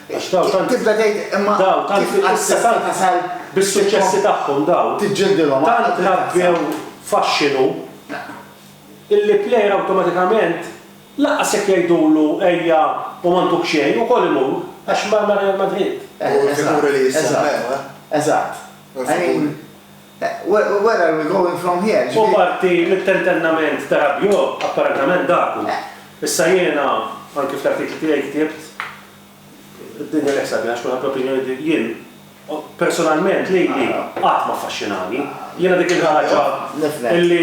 tibda tgħid imma kif assista tasal bis-suċċessi tagħhom dawn, tant rabbew faxxinu, illi plejer awtomatikament Lanqas jekk jgħidulu ejja u ma ntuk xejn, ukoll imur, għax mar ma' Real Madrid. U l-figuri li jissemmew, eh. Eżatt. I mean, where are we going from here? U parti mit-tentennament ta' Rabiot, apparentament dak hu. Issa jiena, anki fl-artikli tiegħi ktibt, Id-dinja neħseb li għax kulħadd l-opinjoni tiegħu, jien personalment lejli qatt ma ffaxxinani. Jiena dik il-ħaġa li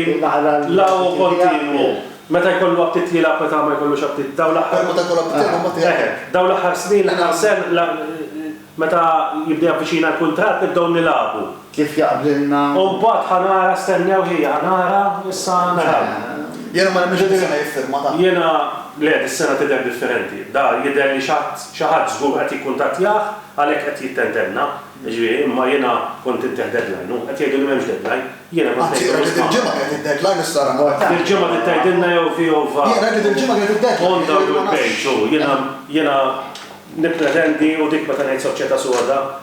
la hu kontinwu, meta jkollu aptit jilgħab meta ma jkollux aptit. Dawn l-aħħar Meta jkollu aptit jilgħab mbagħad jgħid. Eħe, dawn l-aħħar snin, l-aħħar sena, meta jibda javviċina l-kuntratt nibdew nilagħbu. Kif jaqblilna. U mbagħad ħa nara, stennew ħija, ħa nara, issa naraw. Jiena ma nemminx li dis-sena jiffirma dan. Jiena, le, dis-sena tidher differenti. Da jidher li xi ħadd, xi ħadd żgur qed jikkuntattjah għalhekk qed jittentenna, jiġifieri, imma jiena kont intih deadline u qed jgħidu li m'hemmx deadline. Jiena kont ngħid. Anzi, rajt li dil-ġimgħa kienet id-deadline issa ara mort hemm. Dil-ġimgħa trid tgħidilna jew fi jew va. Jiena rajt li dil-ġimgħa kienet id-deadline. On Double Page, hu, jiena, jiena nippretendi u dik meta ngħid soċjetà soda,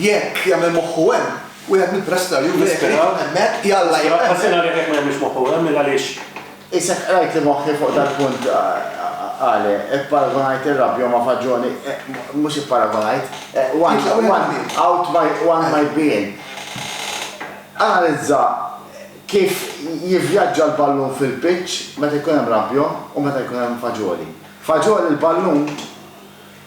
Jekk jagħmel moħħu hemm wieħed mill-prastar jew l-isptar hemmhekk, jalla jibqa' hemmhekk. Ħażin għalih jekk ma jagħmilx moħħu hemm, il għaliex? Isek qrajt li moħħi fuq dal-punt għali, ipparagunajt ir-rabja ma' faġġoni, mhux ipparagunajt, one might be in. Analizza kif jivvjaġġa l-ballun fil-pitch meta jkun hemm rabja u meta jkun hemm faġġoli. Faġġoli l-ballun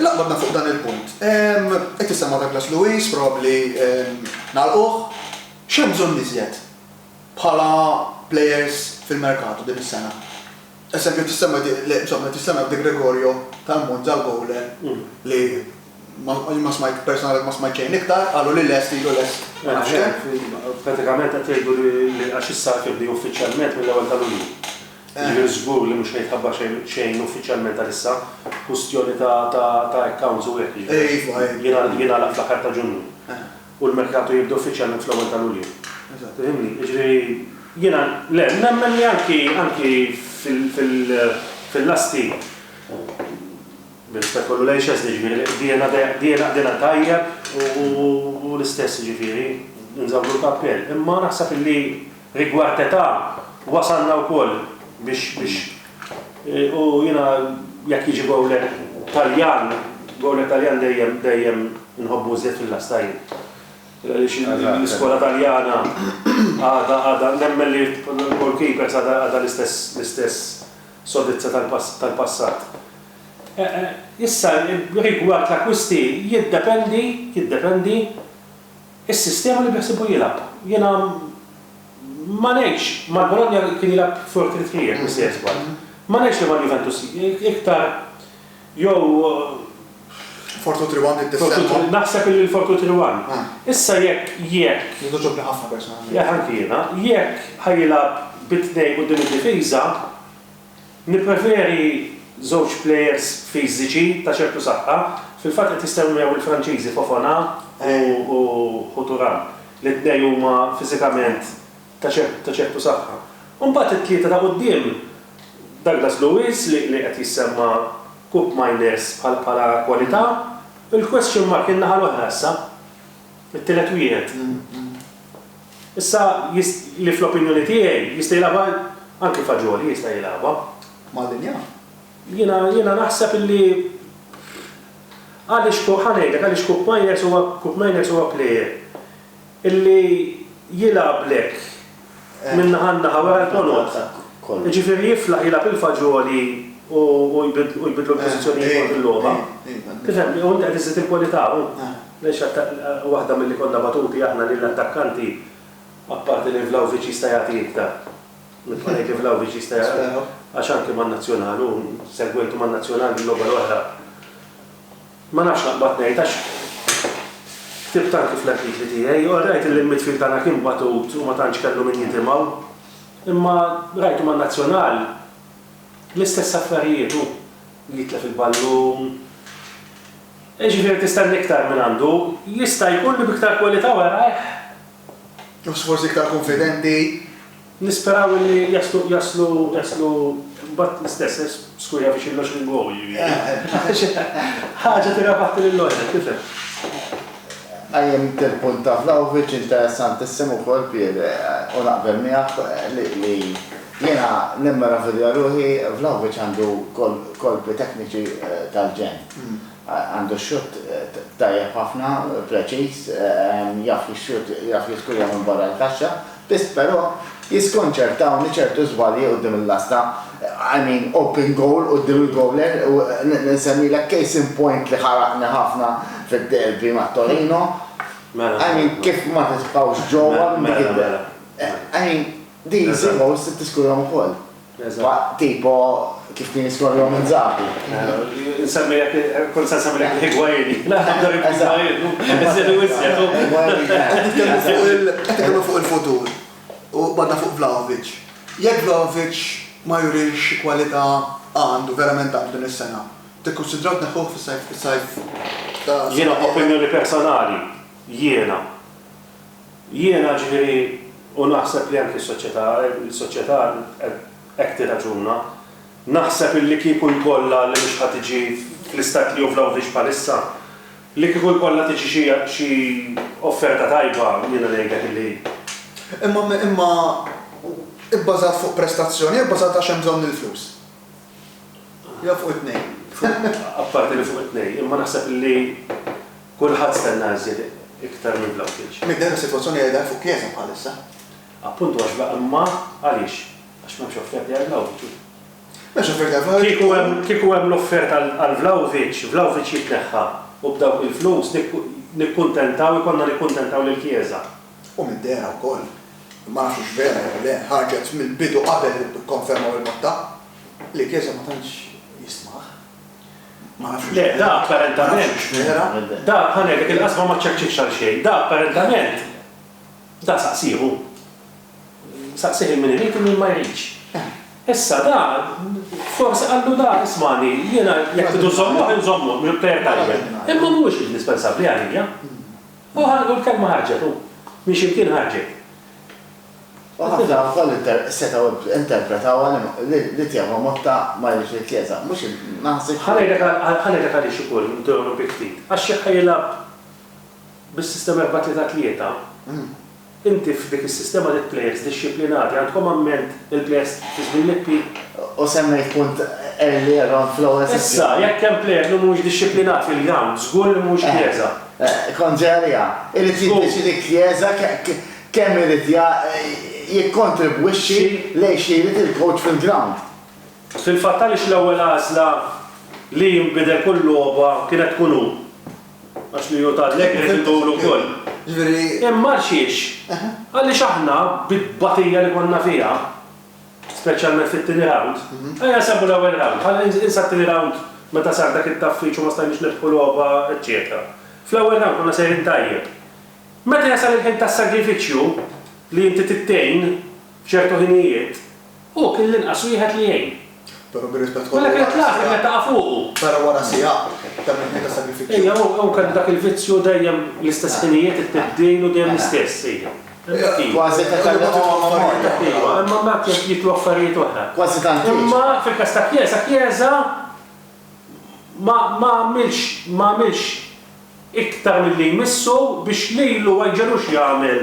Laqbadna fuq dan il-punt. Qed issemma' Douglas Luiz, probabbli nagħlquh. X'hemm bżonn iżjed bħala plejers fil-merkatu din is-sena? Eżempju qed issemma' insomma qed issemma' De Gregorio tal-Monza l-bowler li ma smajt personalment ma smajt xejn iktar, qalu li lest ilu lest ma nafx kemm. Pratikament qed jgħidu li għax is-sajf jibda uffiċjalment mill-ewwel ta' Lulju. Jiġifieri żgur li mhux ħejtħabbar xejn xejn uffiċjalment għalissa, kwistjoni ta' ta' ta' accounts u hekk jiġifieri jingħal jingħalaq fl-aħħar ta' Ġunju. U l-merkatu jibda uffiċjalment fl-ewwel ta' Lulju. Tifhimni? Jiġifieri jiena le, nemmen li anki anki fil fil fil-lasti bir-rispett kollu lejn Szczesny jiġifieri qdiegħna de qdiegħna qdiegħna tajjeb u u l-istess jiġifieri nżawwdu l-kappell. Imma naħseb illi. Rigward età, wasalna wkoll biex biex u jiena jekk jiġi gowlet Taljan, gowlet Taljan dejjem dejjem inħobbu iżjed fil-lasta jien. Għaliex l-iskola Taljana għadha għadha nemmen li l-goalkeepers għadha għadha l-istess l-istess sodizza tal-pass tal-passat. Issa rigward l-akkwisti jiddependi jiddependi Is-sistema li beħsiebu jilgħab. Jiena ma ngħidx, mal-Bologna kien jilgħab four three three jekk mhux se jiżball. Ma ngħidx li mal-Juventus, iktar jew. Four two three one trid tissemma? Naħseb li l-four two three one. Issa jekk, jekk. Li togħġobni ħafna personalment. Jah anki jiena. Jekk ħa jilgħab bi tnejn quddiem id-difiża, Nippreferi żewġ plejers fiżiċi ta' ċertu saħħa. Fil-fatt qed jissemmew il-Franċiżi Fofana u Hu Thuram li t-tnejn huma fiżikament ta' ċertu saħħa. U mbagħad it-tlieta ta' quddiem, Douglas Luiz li qed jissemma' Kupp Miners bħala kwalità, il-question mark in-naħa l-oħra issa, it-tielet wieħed. Issa jist, li fl-opinjoni tiegħi, jista' jilgħabha, anki faġoli jista' jilgħabha. Mal-linja? Jiena, jiena naħseb li għaliex Koop, ħa ngħidlek għaliex Koop Meiners huwa, Koop Meiners huwa plejer illi jilgħablek minn naħa għal naħa wara l-ponot. Jiġifieri jiflaħ jilgħab il-faġoli u, u jbidlu l-pożizzjonijiet waqt il-logħba. Tifhem? U inti qed iżżid il-kwalità, u. Mexa ta' waħda milli konna batuti aħna li l-attakkanti apparti li Vlahovic jista' jagħti iktar. Nibqa' ngħid li Vlahovic jista' jagħti għax anke man-Nazzjonal u segwejtu man-Nazzjonal il-logħba l-oħra. Ma nafx naqbad ngħid għax ktibt anke fl-artikli tiegħi, all right illi l-midfield tagħna kien batut u ma tantx kellu min jitimgħu, imma rajtu man-Nazzjonal l-istess affarijiet, hu jitlef il-ballun, Jiġifieri tistenni iktar mingħandu, jista' jkun li b'iktar kwalità u qergħajh. Nofs forsi iktar kunfidenti. Nisperaw illi jaslu jaslu jaslu mbagħad l-istess, skuża biex il-loġ lingwawi jiġifieri. Ħaġa tirrabaħti lill-loġa, tifhem. Qajjimt il-punt ta' Vlahovic interessantissimu wkoll Pier u naqbel miegħek li jiena nimmeravilja ruħi Vlahovic għandu kolpi tekniċi tal-ġenn. Għandu xutt tajjeb ħafna, preċiż, jaf jixxut, jaf jiskujja minn barra l-kaxxa, biss però jiskonċertawni ċertu żbalji quddiem il-lasta, I mean open goal quddiem il-gowler u nsemmilek case in point li ħaraqni ħafna fid-derby ma' Torino, I mean kif ma titfgħux ġewwa minn dik id-derby. I mean these goals tiskujjahom ukoll. Eżatt. Tipo kif kien jiskorjhom Inzaghi. Insemmilek, kont se nsemmilek il-Higuain. Qed nitkellmu fuq il-futur u qbadna fuq Vlahovic. Jekk Vlahovic ma jurix xi kwalità għandu, verament għandu din is-sena, tikkunsidraw tneħħuh fis-sajf, fis-sajf ta' Jiena opinjoni personali, jiena, Jiena, ġifieri, u naħseb li anki s-soċjetà, is-soċjetà hekk tirraġuna, naħseb illi kieku jkollha, li mhux ħa tiġi fl-istat li hu Vlahovic bħalissa, li kieku jkollha tiġi xi xi offerta tajba, jiena ngħidlek illi. Imma, imma, hi bbażat fuq prestazzjoni, hi bbażat għax hemm bżonn il-flus. Jew fuq it-tnejn. Apparti li fuq it-tnejn, imma naħseb li kulħadd stenna iżjed iktar minn Vlahovic. Midher is-sitwazzjoni qiegħda fuq Chiesa bħalissa. Appuntu għax Vla imma għaliex? Għax m'hemmx offerti għal Vlahovic. M'hemmx offerti għal Vlahovic. Kieku hemm l-offerta għal Vlahovic, Vlahovic jitneħħa u b'dawk il-flus nikkuntentaw ikollna nikkuntentaw lil Chiesa. U mid-dehra wkoll, ma nafx hux vera jew le, ħarġet mill-bidu qabel ikkonfermaw il-Motta li Chiesa ma tantx jistmah. Ma nafx hux vera. Le, da apparentament, da ħa ngħidlek il-qasba ma ċċekċietx għal xejn. Da apparentament, da saqsih hu. Saqsih il-min irid u min ma jridx. Issa da, forsi qallu da, ismagħni, jiena jekk tridu żżommuh inżommuh, mhux b'kejl tajjeb. Imma mhuwiex indispensabbli għalija. Hu ħanet u l-kelma ħarġet, u minn ximkien ħarġet. U ħafna wkoll setgħu interpretawha li l-itjaba Motta ma jridx li t-Tlieta, mhux il, ma ħassitx. Ħa ngħidlek ħa ngħidlek għaliex ukoll interrompi ftit, għax jekk ħa jilgħab bis-sistema erbgħa-tlieta-tlieta, Inti f'dik is-sistema lill-plejers dixxiplinati, għandkom amment il-plejers fi żmien Lippi? U semmejt punt earlier on fl-ewwel sessjoni. Issa, jekk hemm plejer li mhuwiex dixxiplinat fil-ground, żgur li mhuwiex Chiesa. Kontrarja, irid jiddeċiedi Chiesa kemm irid jikkontribwixxi lejn xi jrid il-kowċ fil-ground. Fil-fatt għaliex l-ewwel għażla li jinbidel kull logħba kienet tkun hu? Għax min hu tal-legret itul ukoll. Ġifieri. Imma għal xiex? Għaliex aħna bit-tbatija li konna fiha, speċjalment fit-tieni rawnd, ejja nsemmu l-ewwel rawnd, ħalli ninsa t-tieni rawnd meta sar dak it-taffiċ u ma stajniex nirbħu logħba eċċetera. Fl-ewwel rawnd konna sejrin tajjeb. Meta jasal il-ħin tas-sagrifiċċju li inti trid tgħin f'ċertu ħinijiet, Hu kien l-inqas wieħed li għin. Però bir-rispett kollu. Mela kienet l-għażla kienet taqa' fuqu. Però wara siegħa ta' mixja ta' sagrifiċċju. Ejja, hu kellu dak il-vizzju dejjem l-istess ħinijiet, it-tibdil u dejjem l-istess, ejja. Hemmhekk hi. Kważi qed ikellem u għamel mod. Ejwa, imma mbagħad jaf jitlu affarijiet oħra. Kważi tant hi. Imma fil-każ ta' Chiesa, Chiesa ma ma għamilx ma għamilx iktar milli jmissu biex lilu ma jġegħlux jagħmel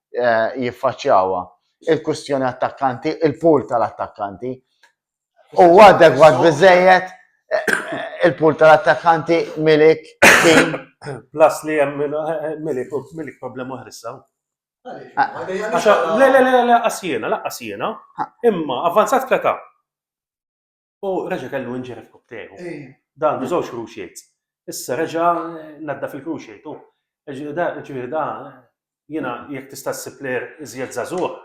eh, jiffaċċjawha. Il-kwistjoni attakkanti, il-pool tal-attakkanti. U adegwat biżejjed eh, il-pool tal-attakkanti milik kien. Plus li hemm eh, milik u milik problema ħrissaw. Le, le, le, le, asjena, la asjena. Imma, avanzat kleta. u reġa' kellu injury f'kupp tiegħu. Dan bi żewġ cruciates. Issa reġa' nadda fil-cruciate u ġifieri da jiena jekk tista' ssib player iżjed żagħżugħ.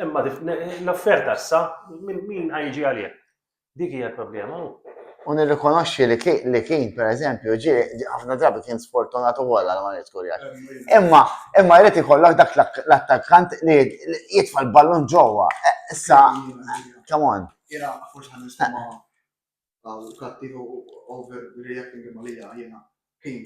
Imma l-offerta issa min ħajġi għalih? Dik hija l-problema. U nirrikonoxxi li ki- li kien, per eżempju, ġie ġie ħafna drabi kien sfortunat ukoll għal ma jrid kurjaġ. Imma imma jrid ikollok dak l-ak- l-attakkant li li jitfa' l-ballun ġewwa. Eh, Issa, come on. Jena, forse għan nistama għal kattiv u overreacting imma lija jena kien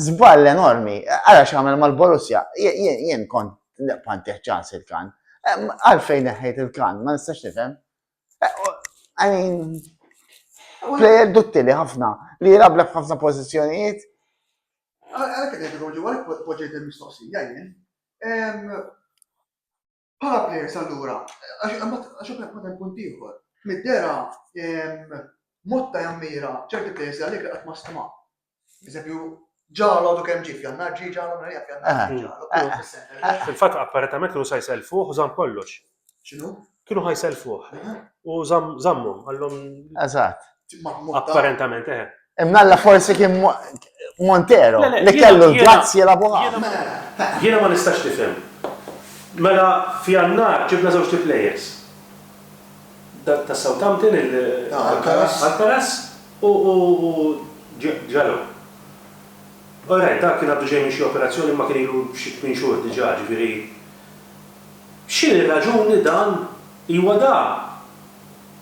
Zball enormi, għara xamel mal-Borussia, jien kont panteħ ċans il-kan. Għalfejn neħħejt il-kan, ma nistax nifhem. Għanin, plejer duttili ħafna, li jirablek ħafna pozizjonijiet. Għara kħedin, għu ġu għalek poġġejt il-mistoqsija, jien. Bħala players allura, għax hekk ma hemm punt ieħor. Mid-dera motta jammira ċerti players li għalik li qatt ma stima. Eżempju, ġalo du kemm ġif jannar ġi ġalo narja f'jannar ġi ġalo. Fil-fatt apparatament kienu sa jselfuh u żamm kollox. X'inhu? Kienu ħajselfuh. U żammhom għallhom. Eżatt. Apparentament, eh. Imnalla forsi kien Montero, li kellu l-grazzi la buħa. Jiena ma nistax tifhem. Mela, fi għannar ġibna żewġ players. Ta' Southampton il-Alcaraz u ġalo. Ora, dak kien għaddu ġej minn xi operazzjoni ma kien ilu xi tmien xhur diġà, ġifieri. X'inhi raġuni dan? Iwa da.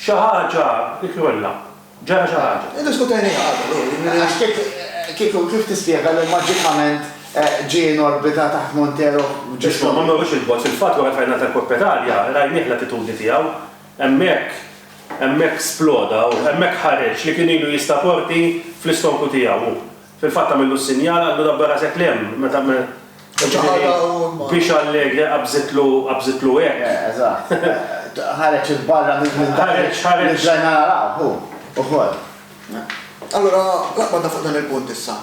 Xi ħaġa jkollha. Ġara xi ħaġa. Iddiskutejniha qabel, hu, jiġifieri għax kif, kif, kif tispjega li maġikament ġie in orbita taħt Montero f'ġismu. Isma', ma mmorrux 'il bogħod, fil-fatt wara l-final tal-Coppa Italia rajnieh l-attitudni tiegħu. Hemmhekk, hemmhekk sploda hu, hemmhekk ħareġ li kien ilu jista' porti fl-istonku tiegħu hu. Fil-fatt għamillu s-sinjal, allura b' rasek l' hemm, meta me, jiġifieri, biex Allegre qabżitlu, qabżitlu hekk. Eh, eżatt. Ħareġ 'il barra minn dak li, Ħareġ, ħareġ. li bdajna naraw, hu, ukoll. Allura, naqbad fuq dan il-punt issa.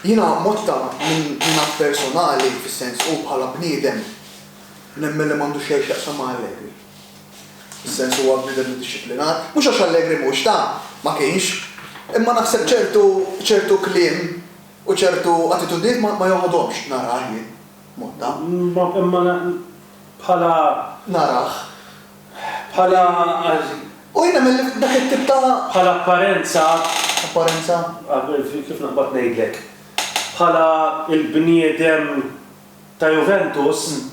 Jiena mod ta' jiena personali, fis-sens, hu bħala bniedem, nemmen li m'għandu xejn x'jaqsam ma' Allegri. Fis-sens huwa bniedem iddixxiplinat. Mhux għax Allegri mhux ta', ma kienx. Imma naħseb ċertu, ċertu kliem u ċertu attitudnijiet ma, ma joħodhomx. Narah jien. Motta. Imma, imma na, bħala. Narah. Bħala għal. U jien nemmen li dak it-tip ta'. Bħala apparenza. Apparenza? Kif naqbad ngħidlek. Bħala l-bniedem ta' Juventus.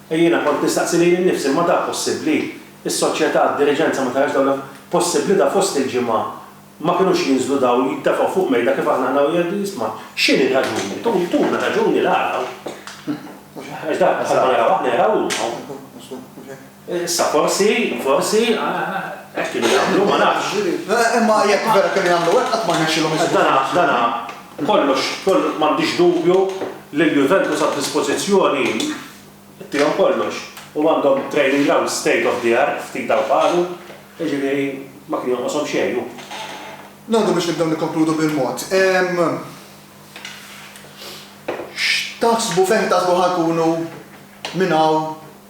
Jiena kont nistaqsi lili nnifsi, imma da possibbli? Is-soċjetà, d-diriġenza ma tarax dawn l-affarijiet? Possibbli da fost il-ġimgħa ma kinux jinżlu dawl jiddefgħu fuq mejda kif aħna ħna u jgħidu jisma', x'inhi r-raġuni? Tuna raġuni l-għala. Għax da bħalma naraw aħna jaraw huma u. Issa forsi, forsi, hekk kienu jagħmlu, ma nafx. Imma jekk vera kienu jagħmlu hekk qatt ma rnexxielhom iżommu. Dana, dana. Kollox, kollox, m'għandix dubju li l-Juventus għad-dispożizzjoni tiegħu kollox u għandhom training ground state of the art ftit hawn f'Għalu, jiġifieri ma kien jonqoshom xejn hu. Ngħaddu biex nibdew nikkonkludu bil-mod. X'taħsbu fejn taħsbu ħa nkunu minn hawn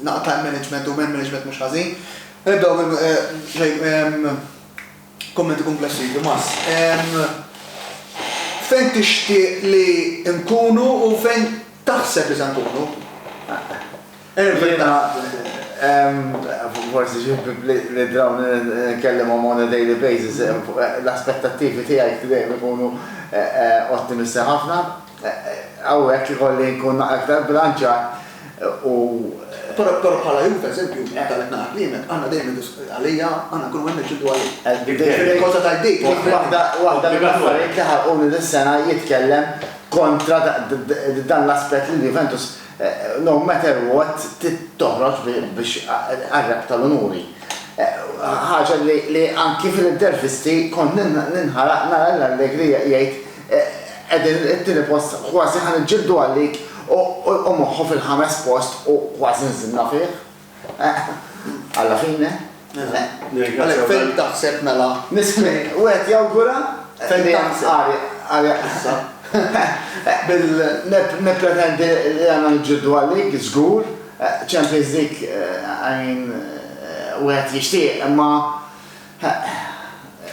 Naqa' time management u man management mhux ħażin. Nibdew minn kummenti kumplessi, Tomas. Fejn tixtieq li nkunu u fejn taħseb li se nkunu? Forsi xi li draw nkellimhom on a daily basis, l-aspettattivi tiegħi dejjem ikunu ottimisti ħafna. Hawnhekk ikolli nkun aktar bbilanċjat u. Però bħala Juve, eżempju, meta qed nara kliemek, għandna dejjem għalija, għandna nkunu hemm niġġieldu għalik. Waħda mill-affarijiet li ħarquni dis-sena jitkellem kontra dan l-aspett li l-Juventus no matter what trid toħroġ biex tqarreb tal-unuri. Ħaġa li anki fl-intervisti kont ninħaraq nara lil Allegri jgħid Qegħdin it-tieni post, kważi ħa niġġieldu għal-lig u moħħu fil-ħames post u kważi nżilna fih. Alla fine. Għalhekk fejn taħseb mela? Wieħed jawgura li għal issa. Nippretendi li għandna niġġieldu għal-lig, żgur. Champions League, I mean, wieħed jixtieq imma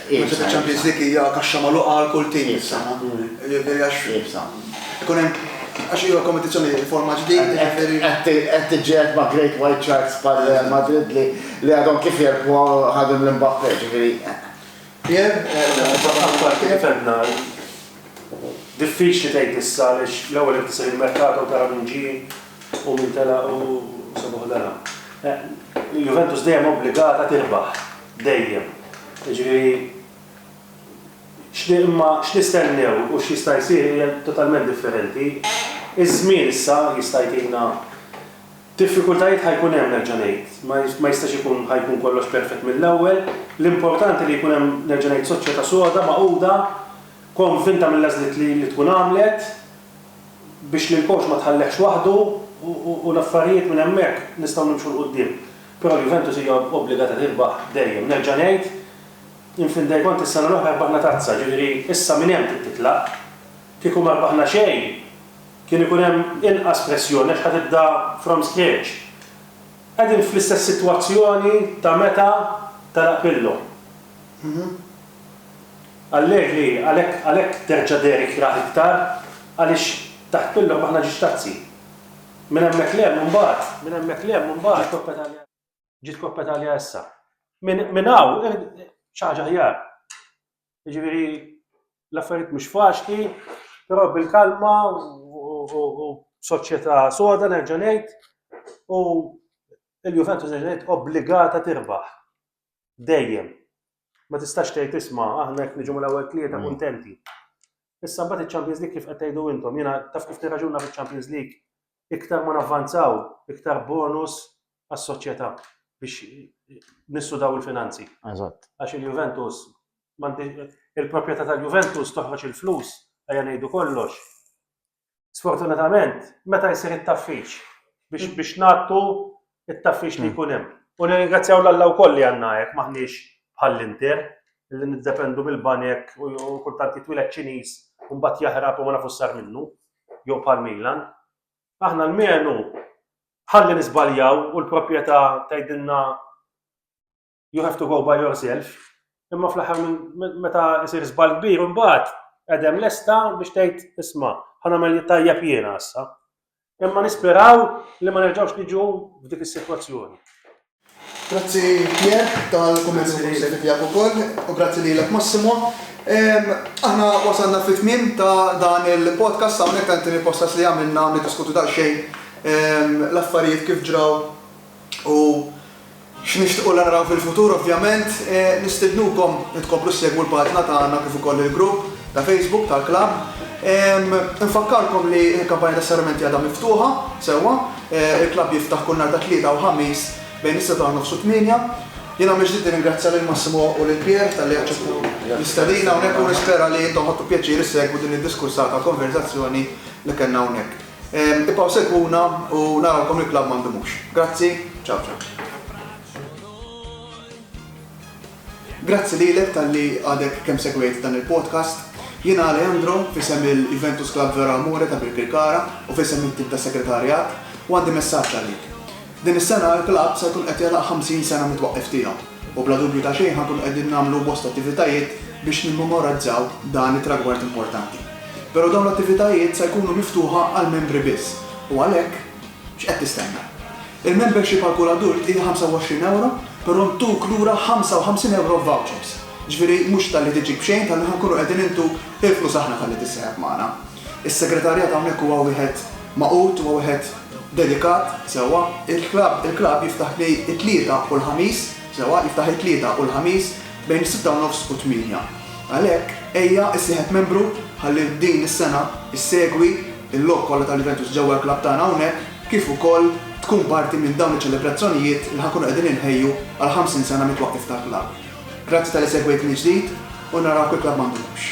Iebsa. Iċ-Champions League hija kaxxa magħluqa għal kull tim fis-sena. Jiġifieri għax. Iebsa. Ikun hemm għax hija kompetizzjoni forma ġdid, jiġifieri. Qed tiġġieled ma' Great White Sharks bħal Real Madrid li għadhom kif jerbħu ħadu lil Mbappe, jiġifieri. Pierre? Apparti kif għedna, diffiċli tgħid issa għaliex l-ewwel irid isir il-merkato u tara min ġie. U min telaq hu sebuħ dara. Il-Juventus dejjem obbligata tirbaħ. Dejjem. Jiġifieri x'ni imma x'nistennew u x'jista' jsir hija totalment differenti. Iż-żmien issa jista' jtina Diffikultajiet ħa jkun hemm nerġa' ngħid. Ma ma jistax ikun ħa jkun kollox perfett mill-ewwel. L-importanti li jkun hemm nerġa' ngħid soċjetà soda magħquda, konvinta mill-għażliet li li tkun għamlet. biex lil Coach ma tħallehx waħdu u l-affarijiet minn hemmhekk nistgħu nimxu 'l quddiem. Però l-Juventus hija obbligata tirbaħ dejjem. Nerġa' ngħid, in fin dei conti s-sena l-oħra rbaħna tazza, ġifieri issa minn hemm trid titlaq. Kieku ma rbaħna xejn, kien ikun hemm inqas pressjoni għax ħa tibda from scratch. Qegħdin fl-istess sitwazzjoni ta' meta telaq Pirlo. Allegri, Għalhekk, għalhekk terġa' dehri kjraħ iktar, għaliex taħt Pillock aħna ġiex tazzi. Minn hemmhekk 'l hemm imbagħad, minn hemmhekk 'l hemm imbagħad ġiet Coppa Italia. Ġiet Coppa Italia issa. Minn hawn xi ħaġa aħjar. Jiġifieri l-affarijiet mhux faċli, però bil-kalma u b'soċjetà soda nerġa' ngħid u l-Juventus nerġa' ngħid obbligata tirbaħ. Dejjem. Ma tistax tgħid isma' aħna jekk niġu mal-ewwel tlieta mm. kuntenti. Issa mbagħad iċ-Champions League kif qed tgħidu intom, jiena taf kif nirraġuna fiċ-Champions League, iktar ma navvanzaw, iktar bonus għas-soċjetà biex nissudaw il-finanzi. Eżatt. Għax il-Juventus, il-proprjetà tal-Juventus toħroġ il-flus, għajja ngħidu kollox, Sfortunatament, meta jsir it-taffix biex biex ngħattu it-taffix li jkun hemm. U nirringrazzjaw l-Alla wkoll li għandna hekk m'aħniex bħall-Inter li niddependu mill-banek u kultant jitwiled Ċiniż u mbagħad jaħrab u ma nafux sar minnu jew bħal Milan. Aħna l-menu ħalli nisbaljaw u l-proprjetà tgħidilna you have to go by yourself, imma fl-aħħar meta jsir żball kbir imbagħad qegħdem lesta biex tgħid isma' ħa nagħmel tajjeb jiena issa. Imma nisperaw li ma nerġgħux niġu f'dik is-sitwazzjoni. Grazzi Pier tal-kummenti tiegħek ukoll u grazzi lilek Massimo. Aħna wasalna fit tmiem ta' dan il-podcast hawnhekk tant il-podcast li għamilna niddiskutu daqsxejn l-affarijiet kif ġraw u x'nixtiequ li naraw fil-futur ovvjament, nistednukom li tkomplu ssegwu l-paġna tagħna kif ukoll il-grupp ta' Facebook tal-klabb. Infakkarkom li l-kampanja tas-serramenti għadha miftuħa sewwa, il-klabb jiftaħ kull nhar ta' Tlieta u Ħamis bejn is-sebgħa u nofs u t-tmienja. Jiena mill-ġdid nirringrazzja lil Massimo u lil Pierre talli aċċettaw l-istedina hawnhekk u nispera li intom ħadtu pjaċir issegwu din id-diskursata konverżazzjoni li kellna hawnhekk. Ibqgħu segwuna u narawkom il-klabb ma ndumux. Grazzi, ciao ciao. Grazzi lilek talli għadek kemm segwejt dan il-podcast. Jiena Alejandro, f'isem il-Juventus Club Vero Amore ta' Birkirkara u f'isem it-tim tas-Segretarjat, u għandi messaġġ għalik. Din is-sena il-klabb se jkun qed jagħlaq 50 sena mit-twaqqif tiegħu u bla dubju ta' xejn ħa nkunu qegħdin nagħmlu bosta attivitajiet biex nimmemorazzaw dan it-tragward importanti. Però dawn l-attivitajiet se jkunu miftuħa għall-membri biss u għalhekk x'qed tistenna? Il-membership għal kull adult hija 25 ewro però ntuk lura 55 ewro f'vouchers. Ġifieri mhux talli tiġi b'xejn talli ħa nkunu qegħdin intuk il-flus aħna talli tissieħeb magħna. Is-segretarjat hawnhekk huwa wieħed magħqud, huwa wieħed dedikat, sewwa. Il-klabb, il-klabb jiftaħ bej it-Tlieta u l-Ħamis, sewwa, jiftaħ it-Tlieta u l-Ħamis bejn is-sitta u nofs u t-tmienja. Għalhekk, ejja issieħeb membru ħalli din is-sena issegwi l-logħob kollha tal-Juventus ġewwa l-klabb tagħna hawnhekk kif ukoll tkun parti minn dawn iċ-ċelebrazzjonijiet li ħa nkunu qegħdin inħejju għall-50 sena mit-twaqqif tal-klabb. Grazzi talli segwejt mill-ġdid u narawk il-klabb ma ndumux.